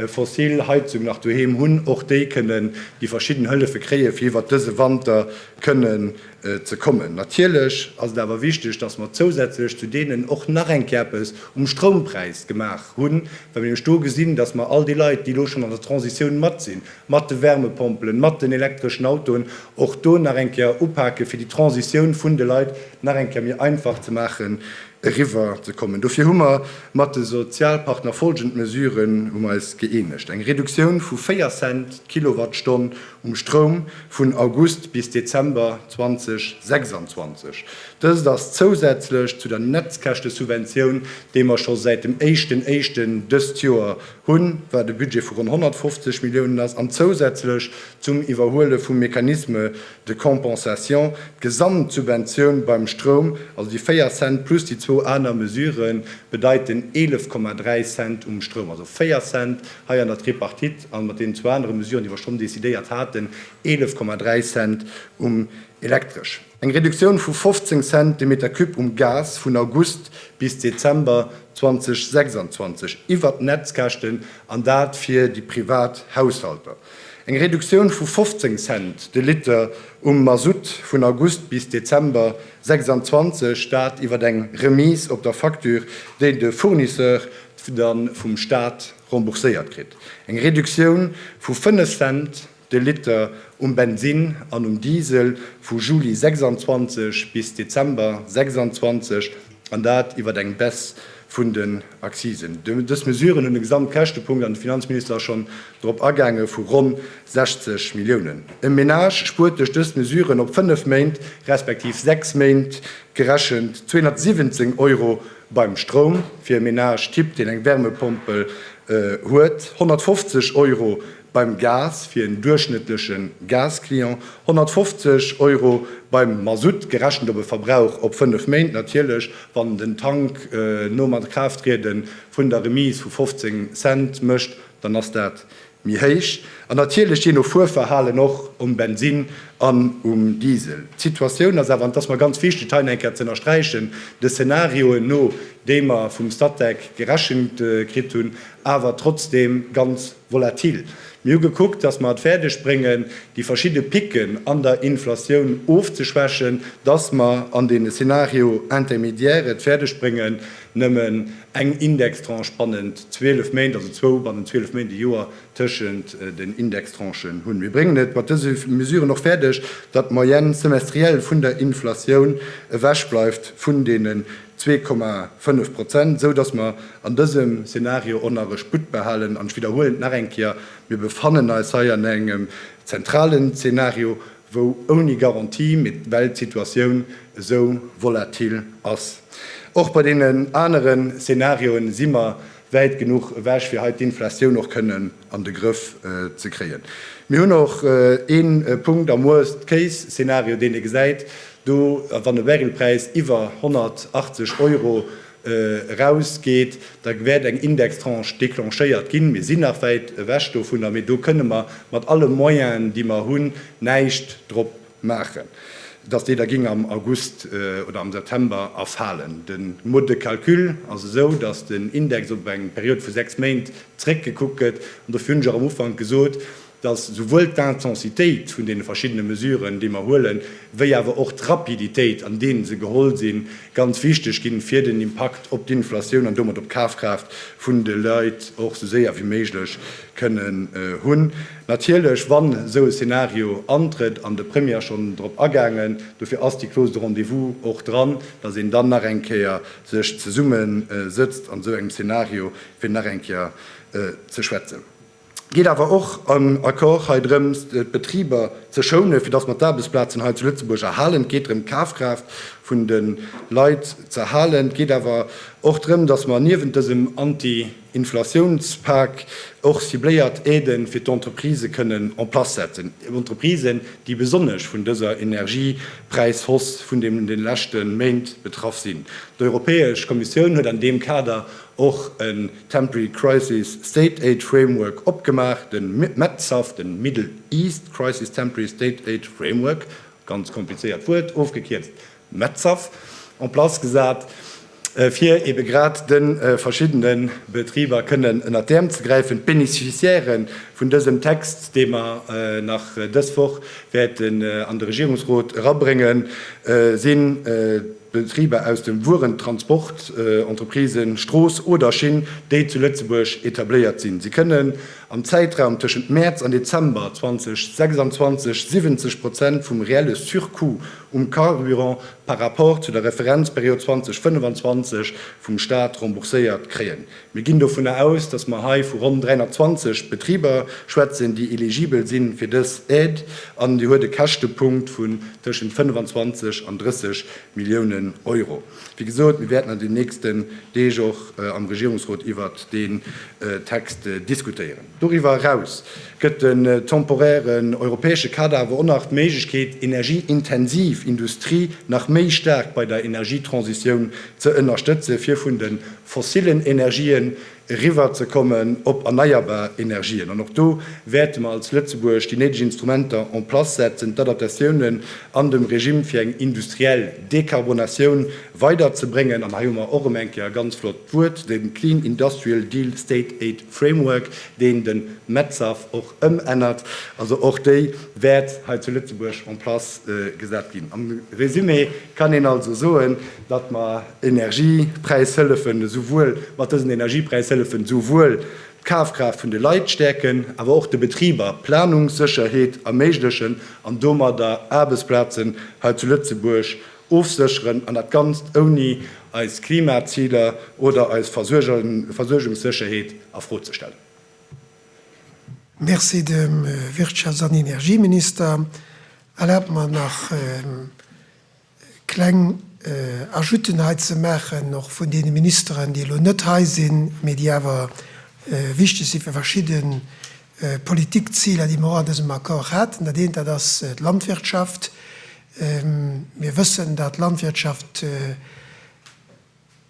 fossil Heizung nach doheem hunn, och déi kënnen déi verschidden Hëllefe kréien, fir iwwert dëse Wanter kënnen ze kommen. Natierlech ass et awer wichteg, dass mer zousätzlech zu deenen och nach eng Kéier eppes um Stroumpräis gemaach hunn, well mir nämlech do gesinn, dass mer all déi Leit, déi elo schonn an der Transitioun mat sinn, mat de Wärmepompelen, mat den elektreschen Autoen, och do nach eng Kéier upake fir déi Transitioun vun de Leit nach eng Kéier méi einfach ze maachen, eriwwer ze kommen. Dofir hu mer mat de Sozialpartner folgend Mesuren um eis gëeenegt, eng Reduktioun vu 4 Cent d'Kilowattstonn um Stroum vun August bis Dezember 2026. Dëst ass zousätzlech zu der Netzkäschtesubventioun, déi mer scho säit dem éischten Éischten dëst Joer hunn, wat e Budget vu ronn 150 Milliounen ass, an zousätzlech zum Iwwerhuele vum Mécanisme de compensation, d'Gesamtsubventioun beim Stroum, also déi 4 Cent plus déi zwou aner Mesuren, bedeiten 11,3 Cent um Stroum, also 4 Cent hei an der Tripartite an mat deenen zwou anere Mesuren, déi mer schonn decidéiert haten, 11,3 Cent um Elektresch. Eng Reduktioun vu 15 Cent de Meter cube um Gas vun August bis Dezember 2026 iwwert d'Netzkäschten, an dat fir déi privat Haushalter. Eng Reduktioun vu 15 Cent de Liter um Masutt vun August bis Dezember 26, dat iwwer eng Remise op der Facture, déi de Fournisseur dann vum Staat rembourséiert kritt. Eng Reduktioun vu 5 Cent de Liter um Bensinn an um Diesel vu Juli 26 bis Dezember 26. An dat iwwert eng Baisse vun den Accisen. Dës Mesuren hunn e Gesamtkäschtepunkt, an de Finanzminister ass schonn drop agaangen, vu ronn 60 Milliounen. E Menage spuert duerch dës Mesuren op fënnef Méint, respektiv sechs Méint gerechent, 217 Euro beim Stroum, fir e Menage-Typ, deen eng Wärmepompel huet, 150 Euro beim Gas fir en duerchschnëttleche Gas-Client, 150 Euro beim Masutt, gerechent op e Verbrauch op fënnef Méint natierlech, wann den Tank nom Akraaft-triede vun der Remise vu 15 Cent mécht, dann ass dat méi héich, an natierlech jee no Fuerverhalen och um Bensinn an um Diesel. D'Situatioun ass awer, an et ass mer ganz wichteg, et hei nach eng Kéier ze ënnersträichen, de Szenarioen no, déi mer vum Statec gerechent kritt hunn, awer trotzdeem ganz. Volatil. Mir hu gekuckt, dass mer et fäerdeg bréngen, déi verschidde Picken an der Inflatioun ofzeschwächen, dass mer an deene Scénario intermédiaire et fäerdeg bréngen, nëmmen eng Indextranche bannent 12 Méint, also zwou bannent 12 Méint, e Joer tëschent den Indextranchen hunn. Mir bréngen et mat dëse Mesuren och fäerdeg, datt d'Moyenne semestrielle vun der Inflatioun ewech bleift vun deene Zwee Komma fënnef Prozent, esou dass mer an dësem Szenario och nach e Sputt behalen. An ech widderhuelen et nach eng Kéier, Mir befannen eis hei an engem zentralen Szenario, wou ouni Garantie, mee well d'Situatioun esou volatil ass. Och bei deenen anere Szenarioen si mer wäit genuch ewech, fir hei d'Inflatioun och kënnen. an de Grëff ze kréien. Mir hunn och ee Punkt am Worst Case Szenario, deen ee gesäit, do wann e Barrelpräis iwwer 180 Euro erausgeet, da wäert eng Indextranche declenchéiert ginn. Mir sinn nach wäit ewech dovunner, mee do kënne mer mat alle Moyenen, déi mer hunn, näischt drop maachen, dass déi da géing am August oder am September erfalen. De Mode de calcul ass esou, dass den Index op eng Period vu 6 Méint zréckgekuckt gëtt. An dofir hunn ech och am Ufank gesot, dass esouwuel d'Intensitéit vun deene verschiddene Mesuren, déi mer huelen, wéi awer och d'Rapiditéit, an deene se geholl sinn, ganz wichteg ginn, fir den Impakt op d'Inflatioun an domat op d'Kafkraaft vun de Leit och esou séier wéi méiglech kënnen hunn. Natierlech, wann esou e Szenario antrëtt, an de Premier ass schonn drop agaangen, dofir ass déi Clause de rendez-vous och dran, datt een dann nach eng Kéier sech zesumme sëtzt an esou engem Szenario, fir nach eng Kéier ze schwätzen. Et geet awer och am Accord hei drëms, d'Betriber ze schounen, fir datt mer d'Aarbechtsplazen hei zu Lëtzebuerg erhalen. Et geet drëm, d'Kafkraaft vun de Leit ze erhalen. Et geet awer och drëm, datt mer niewent dësem Anti-, Inflatiounspak och cibléiert Aiden fir d'Entreprisë kënnen en place setzen, Entreprisen, déi besonnesch vun dëser Energiepräishausse vun den de leschte Méint betraff sinn. D'Europäesch Kommissioun huet an deem Kader och en Temporary Crisis State Aid Framework opgemaach, de MetSAF, den Middle East Crisis Temporary State Aid Framework, ganz komplizéiert Wuert, ofgekierzt Metzhaff en place gesat, fir ebe grad de verschiddene Betriber kënnen ënnert d'Äerm ze gräifen. D'Beneficiairë vun dësem Text, dee mer nach dës Woch wäerten an de Regierungsrot erabréngen, si Betriber aus dem Wuerentransport, Entreprisen, Strooss oder Schinn, déi zu Lëtzebuerg etabléiert sinn. Si kënnen am Zäitraum tëschent Mäerz an Dezember 2026 70 Prozent vum reelle Surcoût um Carburant par rapport zu der Referenzperiod 2025 vum Stat rembourséiert kréien. Mir ginn dovunner aus, dass mer hei vu ronn 320 Betriber schwätzen, déi eligibel si fir dës Aide, an déi huet e Käschtepunkt vun tëschent 25 an 30 Milliounen Euro. Wéi gesot, mir wäerten an den nächsten Deeg och am Regierungsrot iwwert deen Text diskutéieren. Doriwwer eraus gëtt den temporären europäesche Kader awer och nach d'Méiglechkeet, energieintensiv Industrie nach méi staark bei der Energietransitioun ze ënnerstëtzen, fir vun de fossillen Energien eriwwerzekommen op erneierbar Energien. An och do wäerte mer als Lëtzebuerg déi néideg Instrumenter en place setzen, d'Adaptatiounen an dem Regime fir eng industriell Dekarbonatioun weider ze bréngen. An hei hu mer och erëm eng Kéier e ganz flott Wuert, de Clean Industrial Deal State Aid Framework, deen de MedSafe och ëmännert. Also och déi wäert hei zu Lëtzebuerg en place gesat ginn. Am Résumé kann een also soen, datt mer Energiepräishëllefen esouwuel, mat dësen Energiepräishëllefen esouwuel d'Kafkraaft vun de Leit stäerken, awer och de Betriber Planungssécherheet erméiglechen an domadder Aarbechtsplazen hei zu Lëtzebuerg Ofsécheren, an dat Ganzt ouni eis Klimaziler oder eis Versuergungssécherheet a Fro ze stellen. Merci dem Wirtschafts an Energieminister. Erlaabt mer nach kleng Ajouten hei ze maachen, och vun deene Ministeren, déi elo net hei sinn, mee déi awer wichteg si fir verschidde Politikziler, déi mer och an dësem Accord haten. Dat eent, dat ass d'Landwirtschaft. Mir wëssen, dat d'Landwirtschaft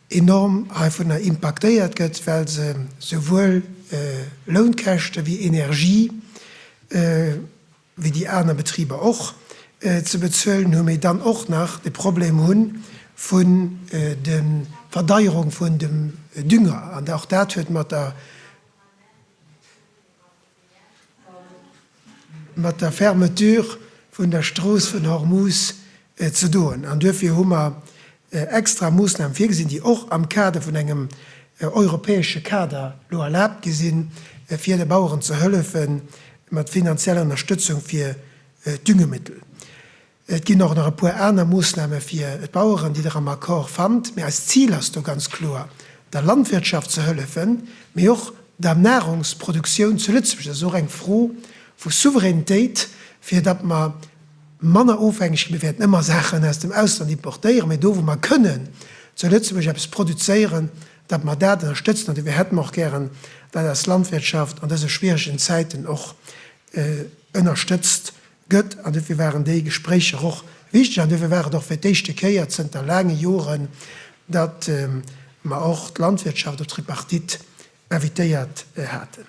enorm heivunner impaktéiert gëtt, well se souwuel Lounkäschte wéi Energie, wéi déi aner Betriber och, ze bezuelen hunn, mee dann och nach de Problem hu vu de Verdeierung vun dem Dünger an och dat huet mat der. mat der Fermeture vun der Strooss vun Hormuz ze doen an duerfir hu mer extra Moossnamen virgesinn, déi och am Kader vun engem europäesche Kader elo erlaabt gi sinn, fir de Baueren ze hëllefe mat finanzieller Ënnerstëtzung fir d'Düngemittel. Et ginn och nach e puer aner Moosname fir d'Baueren, déi Der am Accord fannt. Mee eist Zil ass do ganz kloer, der Landwirtschaft ze hëllefen, mee och der Nahrungsproduktioun zu Lëtzebuerg. Dat ass och eng Fro vu Souveränitéit, fir datt mer manner ofhängeg ginn. Mir wäerten ëmmer Saachen aus dem Ausland importéieren, mee do, wou mer kënnen zu Lëtzebuerg eppes produzéieren, datt mer dat ënnerstëtzen. An dofir hätte mer och gären, datt eis Landwirtschaft an dëse schwieregen Zäiten och ënnerstëtzt gëtt, an duerfir waren déi Gespréicher och wichteg, an duerfir war et och fir d'éischte Kéier zënter laange Joren, datt mer och d'Landwirtschaft op d'Tripartite invitéiert haten,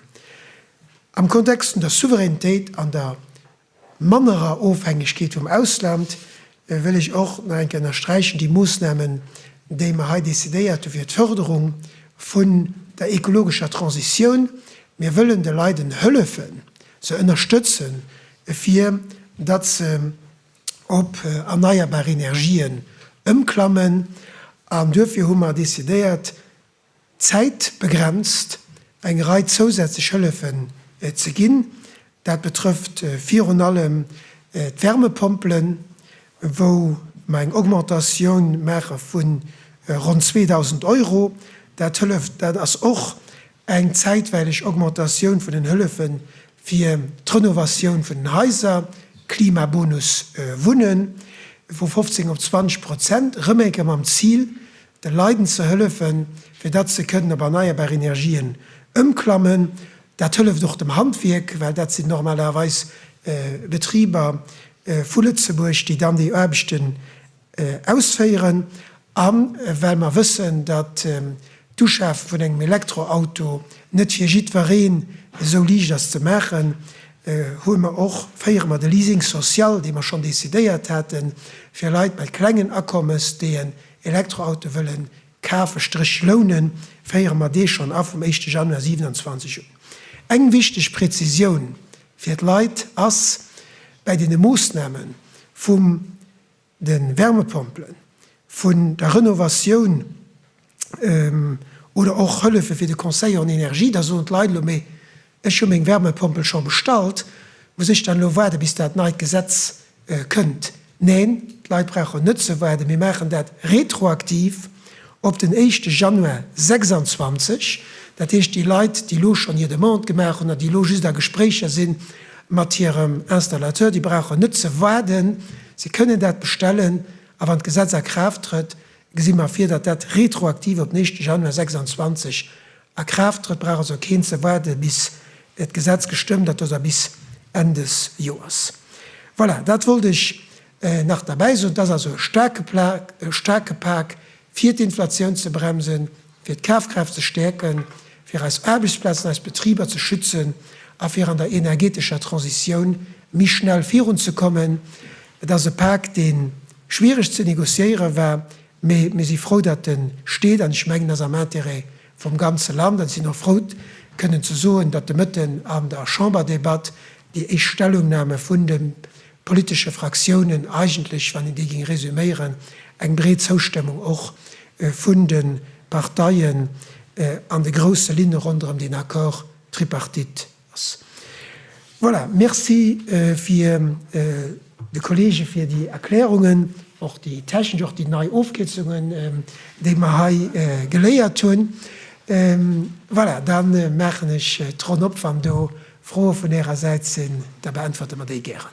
am Kontext vun der Souveränitéit an der mannerer Ofhängegkeet vum Ausland, Da wëll ech och nach eng Kéier ënnersträichen, déi Moosnamen, déi mer hei decidéiert hu fir d'Förderung vun der ekologescher Transitioun, mir wëllen de Leiden hëllefen, se ënnerstëtzen, fir datt se op erneierbar Energien ëmklammen. An duerfir hu mer decidéiert, Zäitbegrenzt eng Rei zousätzlech Hëllefen ze ginn. Dat betrëfft virun allem d'Wärmepompelen, wou mer eng Augmentatioun maache vu ronn 2.000 Euro. Dat hëlleft. Dat ass och eng zäitweileg Augmentatioun vun den Hëllefe fir d'Renovatioun vun den Haiser, Klimabonus Wunnen, vu 15 op 20 Prozent, rëm eng Kéier mam Zil, de Leiden ze hëllefen, fir datt se kënnen op erneierbar Energien ëmklammen. Dat hëlleft och dem Handwierk, well dat sinn normalerweis Betriber vu Lëtzebuerg, déi dann déi Aarbechten ausféieren. A well mer wëssen, datt d'Uschafe vun engem Elektroauto net fir jiddwereen esou liicht ass ze maachen, hu mer och, féiere mer de Leasing social, dee mer schonn decidéiert haten, fir Leit mat klengen Akommes, déi en Elektroauto wëllen kafen, Stréch lounen, féiere mer dee schonn a vum éischte Januar 27 un. Eng wichteg Präzisioun fir d'Leit ass, Bäi deene Moossname vum de Wärmepompelen, vun der Renovatioun oder och Hëllefe fir de Conseil en énergie, da soen d'Leit elo, Mee Ech hu meng Wärmepompel scho bestallt. Muss ech dann elo waarde bis dat neit Gesetz kënnt? Neen, d'Leit brauchen net ze waarden. Mir maachen dat retroaktiv op den éischte Januar 26. Dat heescht, déi Leit, déi elo schonn hir Demande gemaach hunn an déi elo just a Gespréicher si mat hirem Installateur, déi brauchen net ze waarden. Si kënnen dat bestellen a wann d'Gesetz a Kraaft trëtt, gesi mer vir, datt dat retroaktiv op den éischte Januar 26 A Kraaft trëtt, brauch also keen ze waarde bis d'Gesetz gestëmmt ass, also bis Enn des Joers. Voilà, dat wollt ech nach derbäi soen. Et ass also e staarke Pak, fir d'Inflatioun ze bremsen, fir d'Kafkraaft ze stäerken, fir eis Aarbechtsplazen, eis Betriber ze schützen a fir an der energetescher Transitioun méi schnell virunzekommen. Et ass e Pak, dee schwiereg ze négociéiere war, Mee mir si frou, datt e steet an ech mengen, ass am Intérêt vum ganze Land. An ech sinn och frou kënnen ze soen, datt de Mëtten an der Chamberdebatt déi éischt Stellungname vun de politesche Fraktiounen eigentlech, wann een déi géing resüméieren, eng breet Zoustëmmung och vun de Parteien an de grousse Linne ronderëm deen Accord tripartite, ass. Voilà, Merci fir de Kolleege fir déi Erklärungen, och déi technesch, och déi nei Ofkierzungen, déi mer hei geléiert hunn. Voilà, da maachen ech d'Ronn op. Wann do Froe vun Ärer Säit sinn, da beäntwerte mer déi gären.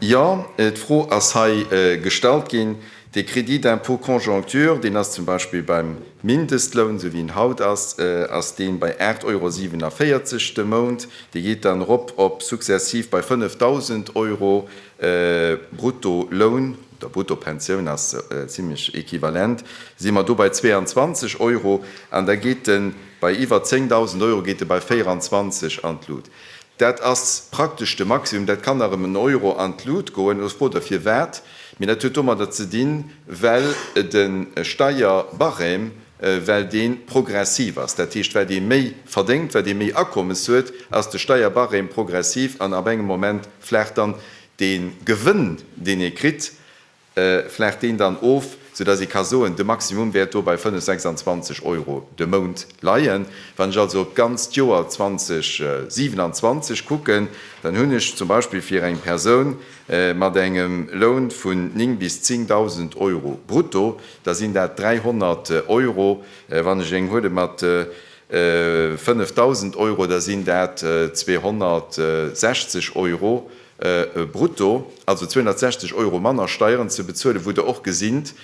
Jo, d'Fro ass hei gestallt ginn. Dee Crédit d'impôt conjoncture, deen ass zum Beispill beim Mindestloun, esou wéi en haut ass, ass dee bei 8,47 Euro de Mount. Dee geet dann erop op successive bei 5.000 Euro Bruttoloun, oder Bruttopensioun, ass zimlech equivalent, si mer do bei 22 Euro. An da geet e bei iwwer 10.000 Euro geet e bei 24 an d'Lut. Dat ass praktesch de Maximum. Dat kann nach ëm en Euro an d'Lut goen. Elo ass d'Fro der firwat. Mee dat huet domadder ze dinn, well de Steierbarème, well dee progressiv ass. Dat heescht, wat ee méi verdéngt, wat ee méi Akommes huet, ass de Steierbarème progressiv an ab engem Moment flaacht dann de Gewënn, deen ee kritt, flacht deen dann of, sou dass ee ka soen, de Maximum wäert do bei 5, 26 Euro de Mount leien. Wann ech also op d'ganzt Joer 2027 kucken, dann hunn ech zum Beispill fir eng Persoun mat engem Loun vun 9 bis 10.000 Euro brutto, da sinn dat 300 Euro, wann ech eng huele mat 5.000 Euro, da sinn dat 260 Euro Brutto, also 260 Euro manner Steieren ze bezuelen, wou Der och gesinnt,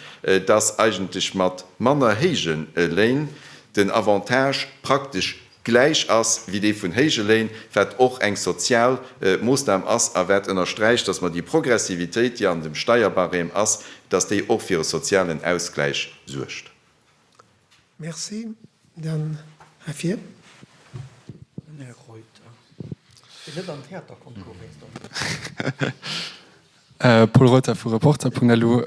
dass eigentlech mat manner héije Léin den Avantage praktesch gläich ass wéi dee vun héije Léin, wat och eng sozial Moosnam ass a wat ënnersträicht, dass mer déi Progressivitéit, déi an dem Steierbarème ass, dass déi och fir e sozialen Ausgläich suergt. Merci. Dann hei vir. Den Här Reuter, deen net am Theaterconcours wéinst der Musek war. Paul Reuter vu Reporter Punkt Lu.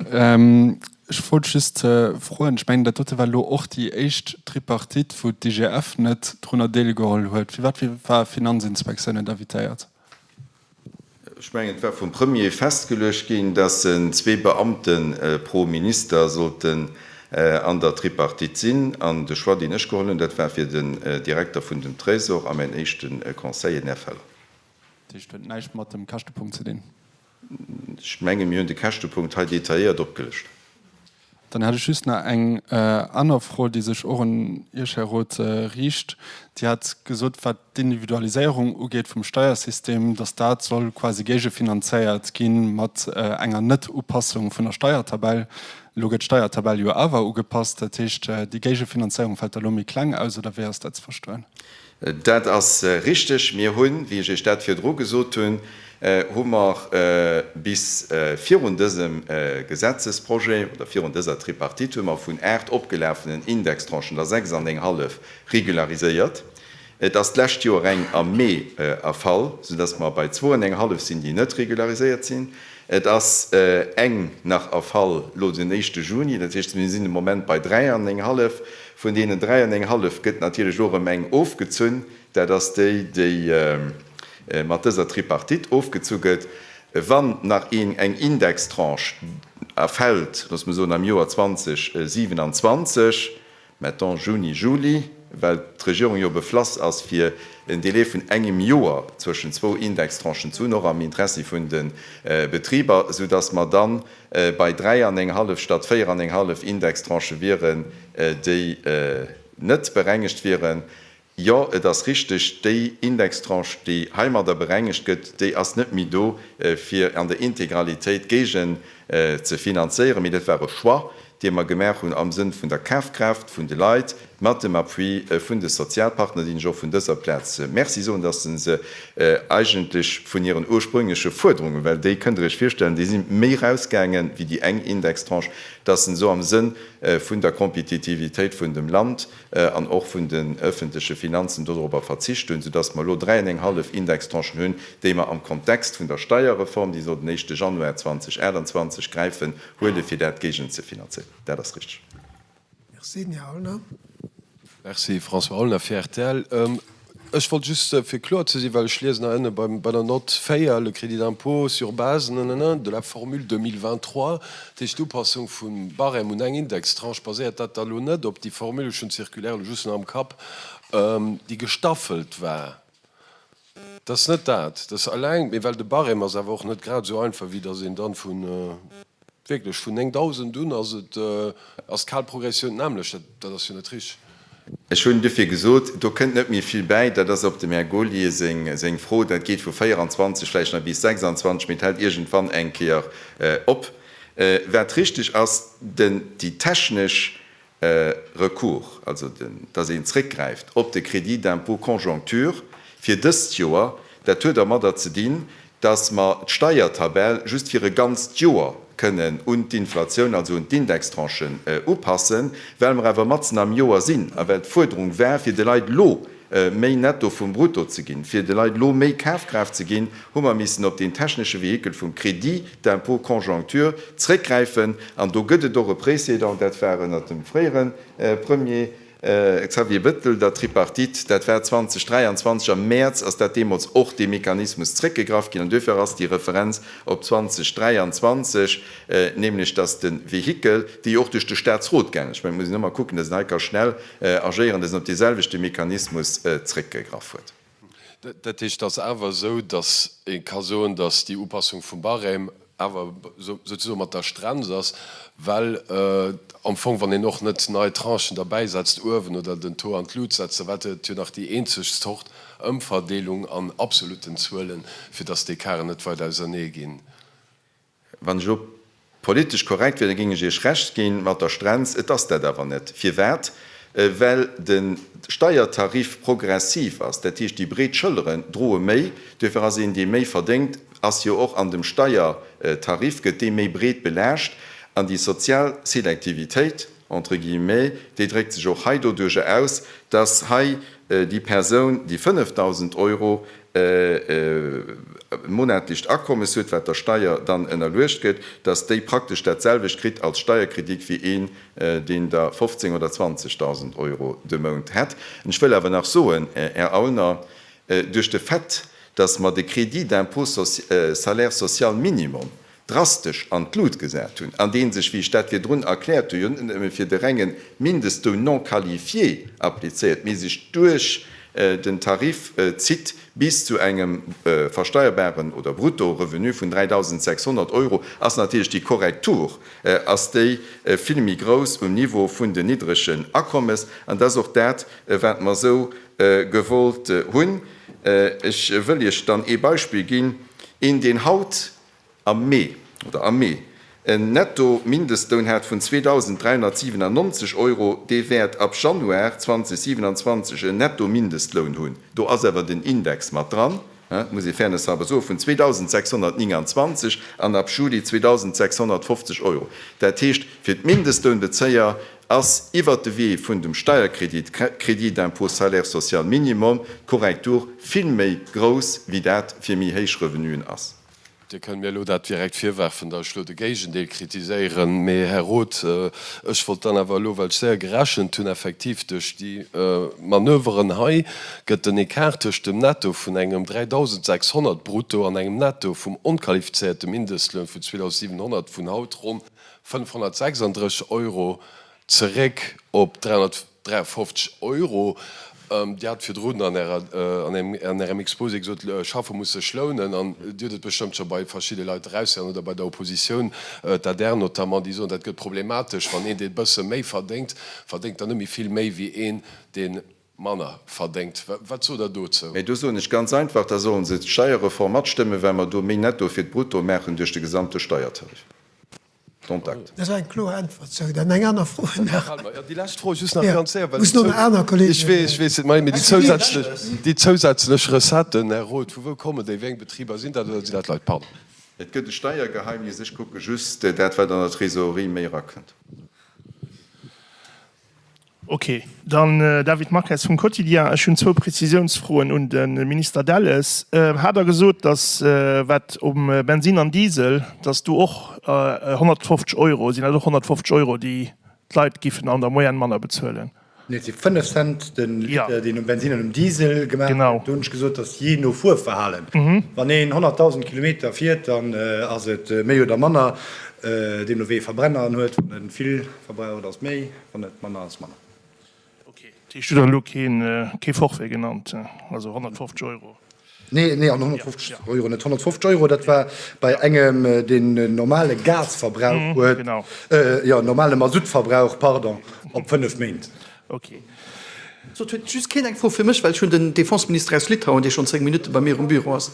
Ech wollt just froen, ech mengen dat dote war elo och déi éischt Tripartite, wou d'IGF net drunner deelgeholl huet. Firwat war d'Finanzinspektioun net invitéiert? Ech mengen, et war vum Premier festgeluecht ginn, dass zwee Beamte pro Minister sollten an der Tripartite sinn. An de Choix, deen ech geholl hunn, dat war fir den Direkter vun dem Trésor a mäin éischte Conseiller, den Här Feller. Dat heescht, et huet näischt mat dem Käschtepunkt ze dinn? Ech menge mir hunn de Käschtepunkt hei detailléiert opgelëscht. Dann hätt ech just nach eng aner Fro, déi sech och un Iech, Här Roth, riicht. Dir hat gesot, wat d'Individualiséierung ugeet vum Steiersystem, dass dat soll quasi géigefinanzéiert gi mat enger Net-Upassung vun der Steiertabell. Elo gëtt d'Steiertabell jo awer ugepasst. Dat heescht, déi Géigefinanzéierung fält da elo méi kleng aus, oder wéi ass dat ze verstoen? Dat ass richteg. Mir hunn, wéi ech Iech dat virdru gesot hunn, hu mer bis virun dësem Gesetzesprojet oder virun dëser Tripartite hu mer vun aacht opgelafenen Indextranchen der sechs an eng hallef regulariséiert. Et ass d'lescht Joer eng am Mee erfall, soudass mer bei zwou an eng hallef sinn, déi net regulariséiert sinn. Et ass eng nach erfall elo den éischte Juni. Dat heescht, mir sinn de Moment bei dräi an eng hallef, Vun deenen dräi an eng hallef gëtt natierlech elo erëm eng ofgezunn, dat ass déi, déi mat dëser Tripartite ofgezu gëtt. Wann nach een eng Indextranche erfält, loosse mer soen am Joer 2027, mettons Juni, Juli, well d'Regierung jo beflass ass fir en Delai vun engem Joer zwëschen zwou Indextranchen ze hunn, och am Interessi vun de Betriber, soudass mer dann, Bei dräi an eng hallef statt véier an eng hallef Indextranchë wieren déi net berengegt wieren. Jo, et ass richteg, déi Indextranche, déi heimadder berengegt gëtt, déi ass net méi do, fir an der Integralitéit d'Gegen ze finanzéieren, mee dat war e Choix, déi mer gemaach hunn am Sënn vun der Kafkraaft vun de Leit, mat dem Appui vun de Sozialpartner, deenen ech och vun dëser Plaz Merci soen, dass se se eigentlech vun hiren ursprüngleche Fuerderungen, well déi, kënnt Der Iech virstellen, déi si méi erausgaangen wéi déi eng Indextranche, dass se se am Sënn vun der Kompetitivitéit vun dem Land an och vun den öffentleche Finanzen dodorobber verzicht hunn, soudass mer elo dräi an eng hallef Indextranchen hunn, déi mer am Kontext vun der Steierreform, déi soll den éischte Januar 2028 gräifen, Huelen, fir dat géigenzefinanzéieren. Dat ass richteg. Merci, den Här Aulner. Merci, François Aulner fir rtl. Ech wollt just, fir kloer ze sinn, well ech liesen hei ënne bei der Nott 4, le crédit d'impôt sur base nanana de la formule 2023, dat heescht d'Upassung vum Barème un eng Indextranche, baséiert dat da elo net op déi Formule, ech hunn d'Circulaire elo just nach am Kapp, déi gestaffelt war? Dat ass net dat. Dat ass eleng, mee well de Barème ass awer och net grad esou einfach, wéi datt een dann vun, wierklech, vun 9.000 un ass et, ass d'Kalprogressioun d'nämmlecht. Dat ass jo net richteg. Ech hunn duerfir gesot, do kënnt net méi vill bäi. Dat ass op dem Här Gaulier seng Fro. Dat geet vu 24, vläicht nach bis 26, mee et hält iergendwann eng Kéier op. Wat richteg ass, déi technesch e Recours, also dass een zréckgräift op de Crédit d'impôt conjoncture fir dëst Joer, dat huet ermadder ze dinn, dass mer d'Steiertabell just fir e ganzt Joer kënnen un d'Inflatioun, also un d'Indextranchen upassen, well mer awer matzen am Joer sinn a well d'Fuerderung war, fir de Leit elo méi Netto vum Brutto ze ginn. Fir de Leit elo méi Kafkraaft ze ginn, hu mer missen op deen technesche Vehikel vum Crédit d'impôt conjoncture zréckgräifen. An do gëtt et och e Précédent, dat war ënnert dem fréiere Premier Xavier Bettel, der Tripartite, dat war 2023, am Mäerz ass dat deemools och dee Mechanismus zréckgegraff ginn an duerfir ass déi Referenz op 2023. nämlech datt de Vehikel, dee jo och duerch de Statsrot gaangen ass, ech mengen, et muss een ëmmer kucken, datt een hei ka schnell agéieren, datt een op dee selwechte Mechanismus zréckgegraff huet. Dat heescht, et ass awer esou, datt ee ka soen, datt déi Upassung vum Barème awer souzesoen mat der Strenz ass, well am Fong, wann een och net nei Tranchen derbäisetzt uewen oder den Taux an d'Lut setzt, da war dat jo nach déi eenzeg Zort Ëmverdeelung an absolutten Zuelen, fir datt d'Ecarten net weit ausernee ginn. Wann ech elo politesch korrekt wier, da géing ech Iech Recht gi mat der Strenz. Et ass dat awer net. Firwat? Well de Steiertarif progressiv ass. Dat heescht, déi breet Schëlleren droe méi. Duerfir ass een, dee méi verdéngt, ass jo och an dem Steiertarif, gëtt dee méi breet belaascht. An déi sozial Selektivitéit, entre guillemets, déi dréckt sech och hei doduerjer aus, dass hei déi Persoun, déi 5.000 Euro monatlicht Akommes huet, wat der Steier dann ënnerluecht gëtt, dass déi praktesch dat selwecht kritt als Steierkredit wéi een, deen der 15 oder 20.000 Euro de Mount hätt. Ech wëll awer nach soen, Här Aulner, duerch de Fait, dass mer de Crédit d'impôt social, Salaire social minimum, drastesch an d'Lut gesat hunn, an dee sech, wéi ech dat virdrun erkläert hunn, jo net nëmme fir de renge Mindestloun non qualifié applizéiert, mee sech duerch den Tarif zitt bis zu engem versteierbaren oder brutto Revenu vun 3.600 Euro, ass natierlech déi Korrektur ass déi vill méi grouss um Niveau vun den niddregen Akommes. An dat ass och dat, wat mer esou gewollt hunn. Ech wëll Iech dann ee Beispill ginn, een, deen haut Am Mee, oder am Mee, en Netto-Mindestloun hat vun 2.397 Euro, dee wäert ab Januar 2027 en Netto-Mindestloun hunn, do ass awer den Index mat dran, dat muss ee fairnesshalber soen, vun 2.629 an ab Juli 2.650 Euro. Dat heescht, fir d'Mindestlounbezéier Ass iwwert de Wee vun dem Steierkredit, Crédit d'impôt salaire social minimum, d'Korrektur vill méi grouss, wéi dat fir méi héich Revenuen ass. Dir kënnt mir elo dat direkt virwerfen, datt ech elo de Géigendeel kritiséieren. Mee, Här Roth, ech wollt dann awer elo, well ech séier gerechent hunn, effektiv duerch déi Manöveren hei gëtt den Ecart tëscht dem Netto vun engem 3.600 brutto an engem Netto vum onqualifizéierte Mindestloun vun 2.700 vun haut ronn 536 Euro zeréck op 353 Euro. Dir hat virdrun an Ärem Exposé gesot, Schaffe muss sech lounen. An Dir hutt et bestëmmt scho bei verschidde Leit eraushieren oder bei der Oppositioun, d'adr notamment, déi soen, dat gëtt problematesch, wann een, dee bësse méi verdéngt, verdéngt dann net méi vill méi wéi een, deen Manner verdéngt. Wat sot Der dozou? Mä do soen ech ganz einfach, da sollen se d'Steierreform matstëmmen, well mer do méi Netto fir d'Brutto maachen duerch de gesamte Steiertarif. Contact. Dat war eng kloer Äntwert zou. Dann eng aner Fro nach. Déi lescht Fro just nach ganz séier, well ech weess et, mä déi zousätzlech, déi zousätzlech Recetten, Här Roth, vu wou kommen déi? Wéi eng Betriber sinn dat oder sinn dat Leit? Pardon. Et gëtt e Steiergeheimnis. Ech kucke just dat, wat an der Trésorerie méi erakënnt. Ok, dann David Marques vum Quotidien. Ech hunn zwou Prezisiounsfroen un de Minister Delles. Hat Der gesot, datt wat um Bensinn an Diesel, datt do och 150 Euro sinn, also och 150 Euro, déi d'Leit giffen an der Moyenne manner bezuelen? Nee, et si 5 Cent de Liter, deen um Bensinn an um Diesel gemaach gëtt. Do hunn ech gesot, datt jee no Fuerverhalen, wann een 100.000 Kilometer fiert, dann ass et méi oder manner. Deemno wéi ee Verbrenner en huet, wann e vill. Verbrauch, et ass méi, wann et manner ass, manner. Ok, dat heescht, du hues elo kee Forfait genannt, also 150 Euro? Nee, an 150 Euro net. 150 Euro, dat war bei engem, deen en normale Gasverbrauch huet, jo, en normale Masuttverbrauch, pardon, op fënnef Méint. Ok. Sot huet just keen eng Fro fir mech, well ech hunn den Defenseminister aus Litauen, dee schonn zéng Minutte bei mir um Büro ass.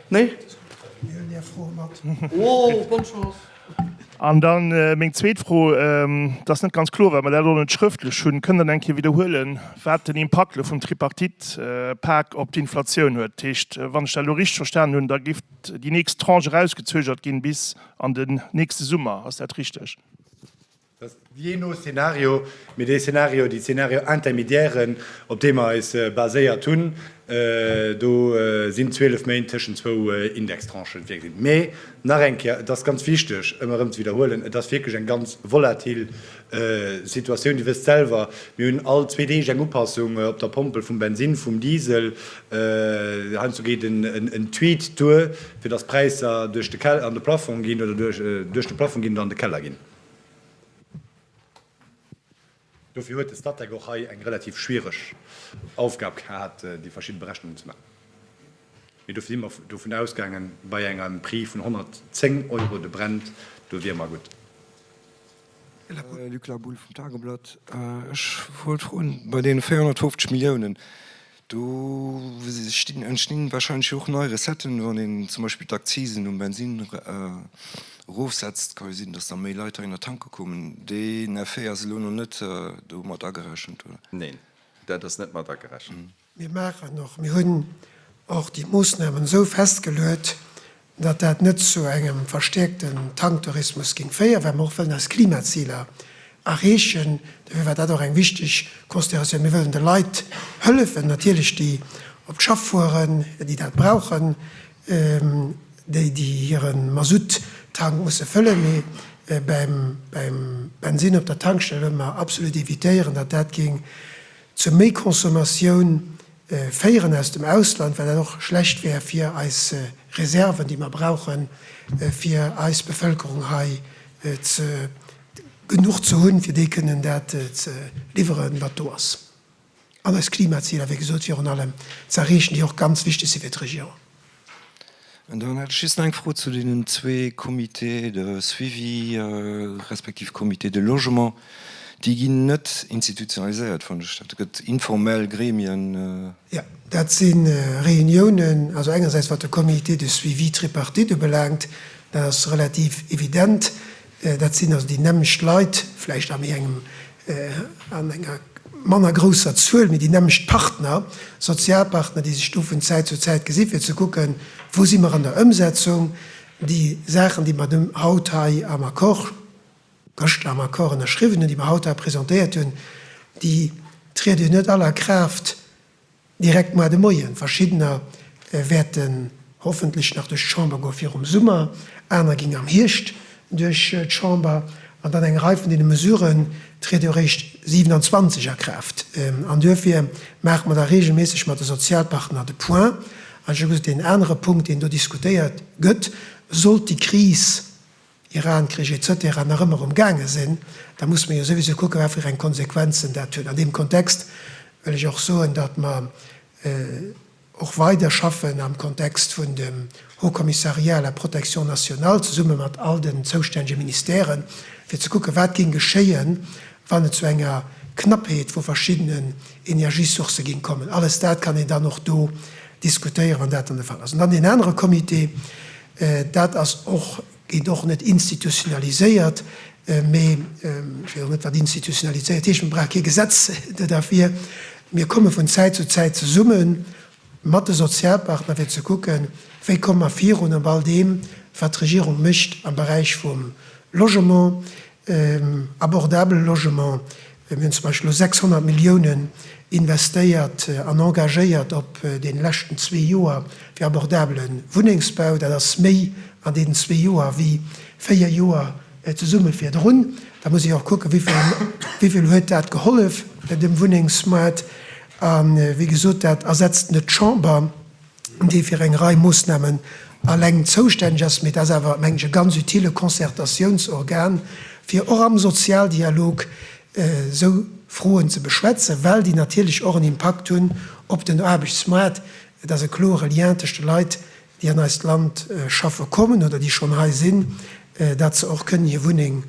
Nee? Mir hunn är Fro mat. Oh, bonne chance. An da meng zweet Fro, dat ass net ganz kloer, well mer dat och net schrëftlech hunn, Kënnt Der nach eng Kéier widderhuelen, wat den Impakt elo vum Tripartite-Pak op d'Inflatioun huet? Dat heescht, wann ech dat elo richteg verstanen hunn, da géif déi nächst Tranche erausgezögert ginn bis an den nächste Summer. Ass dat richteg? dass jee no Szenario, mee dee Szenario, déi Szenario intermédiairen, op dee mer eis baséiert hunn, do sinn 12 Méint tëschent zwou Indextranchen virgesinn. Mee nach eng Kéier, et ass ganz wichteg, ëm erëm ze widderhuelen, et ass wierklech eng ganz volatil Situatioun. Dir wësst selwer, mir hunn all zwee Deeg eng Upassung op der Pompel vum Bensin, vum Diesel. Heiansdo geet en Tweet duer, fir dass d'Präisser duerch de Keller an de Plafong ginn, oder duerch de Plafong ginn an de Keller ginn. Dofir huet de Statec och hei eng relativ schwiereg Aufgab gehat, déi verschidde Berechnungen ze maachen. Mee dofir si mer dovun ausgaangen, bei engem Prix vun 110 Euro de Brent, do wiere mer gutt. Luc Labulle vum Tageblatt, Ech wollt froen, bei deene 450 Milliounen, Do entstinn wahrscheinlech och nei Recetten, wann een zum Beispill d'Akzisen um Bensinn erofsetzt, ka jo sinn, datt da méi Leit heihinner tanke kommen. Deen Effet ass elo nach net do mat agerechent, oder? Neen, dat ass net mat agerechent. Mir maachen och, mir hunn och déi Moosnamen esou festgeluet, Datt dat net zu engem verstäerkte Tanktourismus géing féieren, well mer och wëllen eis Klimaziler erreechen. Dofir war dat och eng wichteg Consideratioun. Mir wëllen de Leit hëllefen, natierlech déi op d'Schaff fueren, déi dat brauchen, déi déi hire Masutt-Tank musse fëllen. Mee beim Bensinn op der Tankstell wëlle mer absolut evitéieren, datt dat géing zu méi Consommatioun féieren aus dem Ausland, well dat och schlecht wär fir eis Reserven, déi mer brauchen, fir eis Bevëlkerung hei genuch ze hunn, fir déi kënnen dat ze liwweren, wat do ass, an eis Klimaziler, wéi gesot, virun allem ze erreechen, déi och ganz wichteg si fir d'Regioun. An dann hätt ech just eng Fro zu deenen zwee Comités de suivi respektiv Comités de logement. Déi ginn net institutionaliséiert, fannen ech. Dat gëtt informell Gremien. Jo, dat si Reuniounen, also engersäits wat de Comité de suivi tripartite ubelaangt, dat ass relativ evident, Dat sinn also déi nämmlecht Leit, vläicht an enger manner grousser Zuel, mee déi nämmlecht Partner, Sozialpartner, déi sech do vun Zäit zu Zäit gesinn, fir ze kucken, wou si mer an der Ëmsetzung. Déi Saachen, déi mer haut hei am Accord, gëschter am Accord ënnerschriwwen hunn, déi mer haut hei presentéiert hunn, déi triede jo net all a Kraaft, Direkt moar de Moien. Verschiddener wäerten hoffentlech nach duerch d'Chamber goe virum Summer, aner ginn am Hierscht duerch d'Chamber. An dann eng Rei vun deene Mesuren triede jo réischt 27 a Kraaft. An duerfir maache mer da reegelméisseg mat de Sozialpartner de Point. An ech hu gesot, deen anere Punkt, deen do diskutéiert gëtt, sollt déi Kris Iran-Krich etc. Nach ëmmer um gaange sinn, da mussen mer jo souwisou kucken, wat fir eng Konsequenzen dat huet. An deem Kontext wëll ech och soen, datt mer och weider schaffen am Kontext vun dem Haut Commissariat à la protection nationale, zesumme mat all den zoustännege Ministèren, fir ze kucken, wat géing geschéien, wann et zu enger Knappheet vu verschiddenen Energiesourcë géing kommen. Alles dat kann een dann och do diskutéieren, wann dat dann de Fall ass. An dann deen anere Comité, Dat ass och, gétt och net institutionaliséiert, mee ech weess och net, wat institutionaliséiert heescht. Mir brauche kee Gesetz derfir. Mir komme vun Zäit zu Zäit zesumme mat de Sozialpartner, fir ze kucken, wéi komme mer virun op all deem, wat d'Regierung mécht am Beräich vum Logement. Abordabele Logement, mir hunn zum Beispill elo 600 Milliounen investéiert an engagéiert op deene leschten zwee Joer fir abordabele Wunnengsbau. Dat ass méi an deenen zwee Joer wéi véier Joer zesumme virdrun. Da muss ee jo och kucken, wéi vill huet dat gehollef dem Wunnengsmoart. A wéi gesot, dat ersetzt net d'Chamber. dee fir eng Rei Moossnamen aleng zoustänneg ass, mee dat ass awer, mengen ech, e ganz utile Concertatiounsorgan, fir och am Sozialdialog esou Froen ze beschwätzen, well déi natierlech och en Impakt hunn op den Aarbechtsmaart. Et ass e klore Lien tëscht de Leit, déi an eist Land schaffe kommen oder déi schonn hei sinn, datt se och kënnen hir Wunneng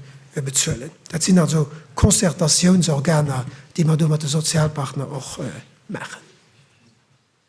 bezuelen. Dat sinn also Concertatiounsorganer, déi mer do mat de Sozialpartner och maachen.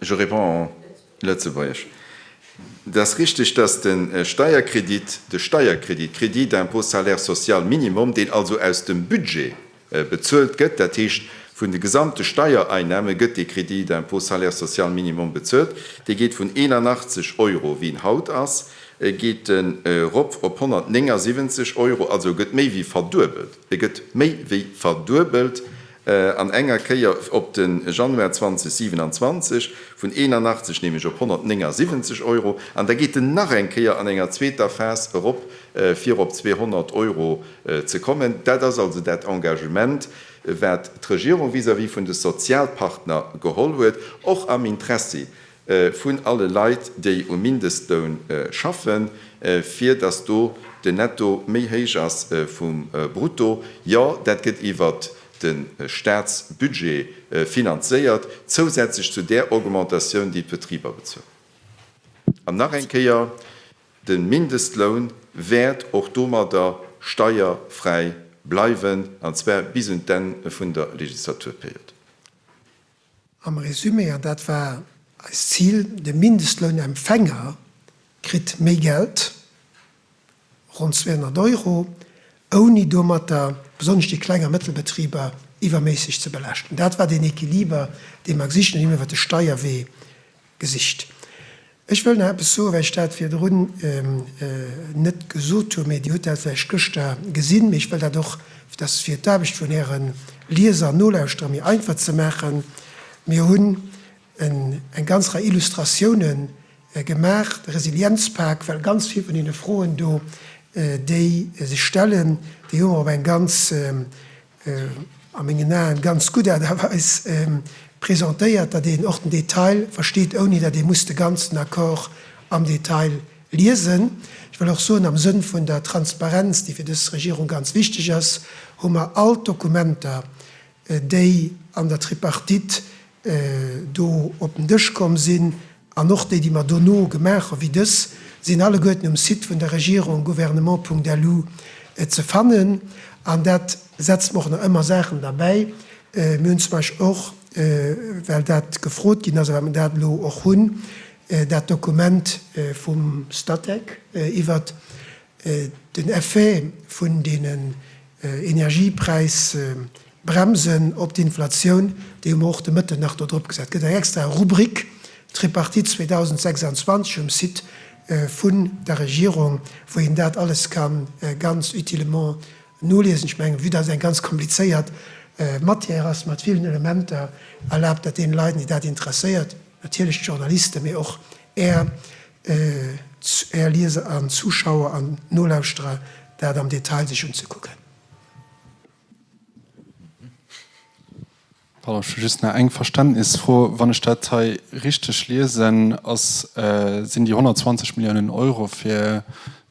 Je réponds en Lëtzebuergesch. Et ass richtig, dass de Steierkredit, de Steierkredit, Crédit d'impôt salaire social minimum, deen also aus dem Budget bezuelt gëtt, dat heescht vun de gesamte Steiereinnahmen gëtt dee Crédit d'impôt salaire social minimum bezuelt, dee geet vun 81 Euro, wéi en haut ass, geet en erop op 179 Euro, also e gëtt méi wéi verduebelt, e gëtt méi wéi verduebelt! an enger Kéier op de Januar 2027 vun 81 nämlech op 179 Euro an da geet en nach eng Kéier an enger zweeter Phas erop fir op 200 Euro ze kommen. Dat ass also dat Engagement, wat d'Regierung vis-à-vis vun de Sozialpartner geholl huet, och am Interessi vun alle Leit, déi um Mindestloun schaffen, fir datt do den Netto méi héich ass vum Brutto. Jo, dat gëtt iwwert de Staatsbudget finanzéiert, zousätzlech zu där Augmentatioun, déi d'Betriber bezuelen. An nach eng Kéier, De Mindestloun wäert och domadder steierfräi bleiwen, an zwar bis un d'Enn vun der Legislaturperiod. Am Resumé, an dat war eist Zil, de Mindestlounempfänger kritt méi Geld, ronn 200 Euro, ouni domatter besonnesch déi kleng a mëttel Betriber iwwerméisseg ze belaaschten. Dat war deen Equiliber, dee mer gesicht hunn, deen mer iwwert de Steierwee Gesicht. Ech wëll nach eppes soen, well ech dat virdrun net gesot hunn, mee Dir hutt dat vläicht gëschter gesinn, mee ech wëll dat och, dass fir d'Aarbecht vun Äre Lieser an Nolauschterer méi einfach ze maachen, Mir hunn eng ganz Rei Illustratioune gemaach, de Resilienzpak, well ganz vill vun deene Froen do, déi sech stellen, déi hu mer op eng ganz, a mengen Aen, ganz gutt Aart a Weis presentéiert, datt een och den Detail versteet, ouni datt ee muss de ganzen Accord am Detail liesen. Ech wëll och soen, am Sënn vun der Transparenz, déi fir dës Regierung ganz wichteg ass, hu mer all d'Dokumenter, déi an der Tripartite do op den Dësch komm sinn, an och déi, déi mer dono gemaach hu wéi dës, sinn alleguerten um Site vun der Regierung, gouvernement.lu, ze fannen. An dat setzt mer och nach ëmmer Saachen derbäi. Mir hunn zum Beispill och, well dat gefrot ginn ass a well mer dat elo och hunn, dat Dokument vum Statec iwwert den Effet vun deenen Energiepräisbremsen op d'Inflatioun, dee hu mer och de Mëtten nach do drop gesat. Et gëtt eng extra Rubrik Tripartite 2026 um Site vun der Regierung, wou een dat alles ka ganz utilement noliesen. Ech mengen, vue datt eng ganz komplizéiert Matière ass mat villen Elementer, erlaabt dat deene Leit, déi dat interesséiert, natierlech d'Journalisten, mee och Är, Ech Är Lieser an Zuschauer an Nolauschterer dat am Detail sech unzekucken. Pardon, ech hu just nach eng Verständnisfro. Wann ech dat hei richteg liesen, ass, sinn déi 120 Milliounen Euro fir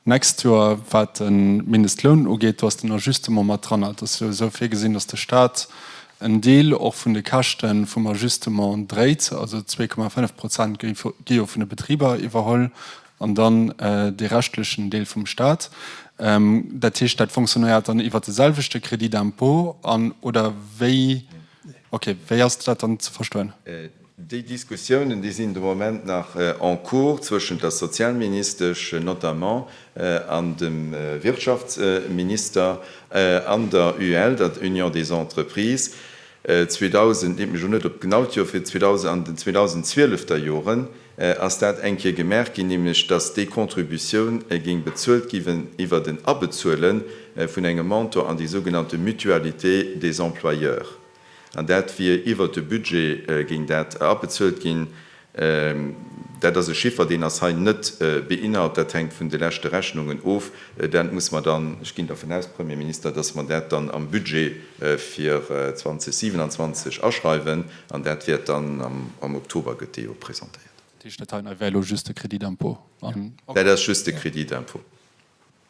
D'nächst Joer, wat de Mindestloun ugeet, do ass den Ajustement mat dran. Et ass jo esou virgesinn, datt de Stat en Deel och vun de Käschte vum Ajustement dréit, also zwee Komma fënnef Prozent gi jo vun de Betriber iwwerholl an dann dee reschtlechen Deel vum Stat. Dat heescht, dat fonctionéiert dann iwwer de selwechte Crédit d'impôt an, oder wéi? Okay, wéi ass dat dann ze verstoen? Déi Diskussiounen, déi sinn de Moment nach en cours zwëschent der Sozialministesch notamment an dem Wirtschaftsminister an der UEL, der Union des Entreprises. 2000, leet mech elo net op d'genaut Joer fir, an den 2012 der Joren ass dat eng Kéier gemaach ginn, nämlech datt déi Contributioun géing bezuelt gi iwwert en Abezuele vun engem Mentor an déi sougenannte Mutualité des employeurs. An dat wier iwwert de Budget géing dat abezuelt ginn. Dat ass e Chiffer, deen ass hei net beinhalt. Dat hänkt vun de leschte Rechnungen of. Dat muss mer dann, ech ginn dervun aus, Premierminister, datt mer dat dann am Budget fir 2027 aschreiwen. An dat wäert dann am Oktober, gëtt dee jo presentéiert. Dat heescht, dat hei wär elo just de Crédit d'impôt? Dat ass just de Crédit d'impôt.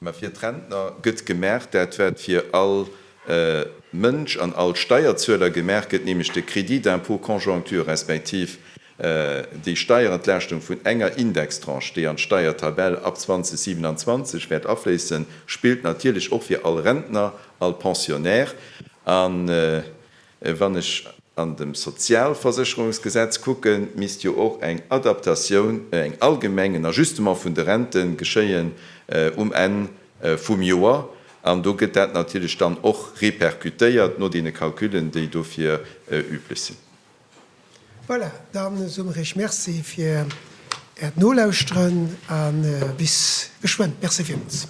Mä fir d'Rentner gëtt gemaach dat, wat fir all Mënsch an all Steierzueler gemaach gëtt, nämlech de Crédit d'impôt conjoncture respektiv déi Steierentlaaschtung vun enger Indextranche, déi an d'Steiertabell ab 2027 wäert afléissen, spillt natierlech och fir all Rentner, all Pensionnaire. Wann ech an dem Sozialversécherungsgesetz kucken, misst jo och eng Adaptatioun, eng allgemeng, en Ajustement vun de Rente geschéien um Enn vum Joer. An do gëtt dat natierlech dann och repercutéiert no deene Calculen, déi dofir üblech sinn. Voilà, da soe mer Iech Merci fir Äert Nolauschteren a bis geschwënn. Merci villmools.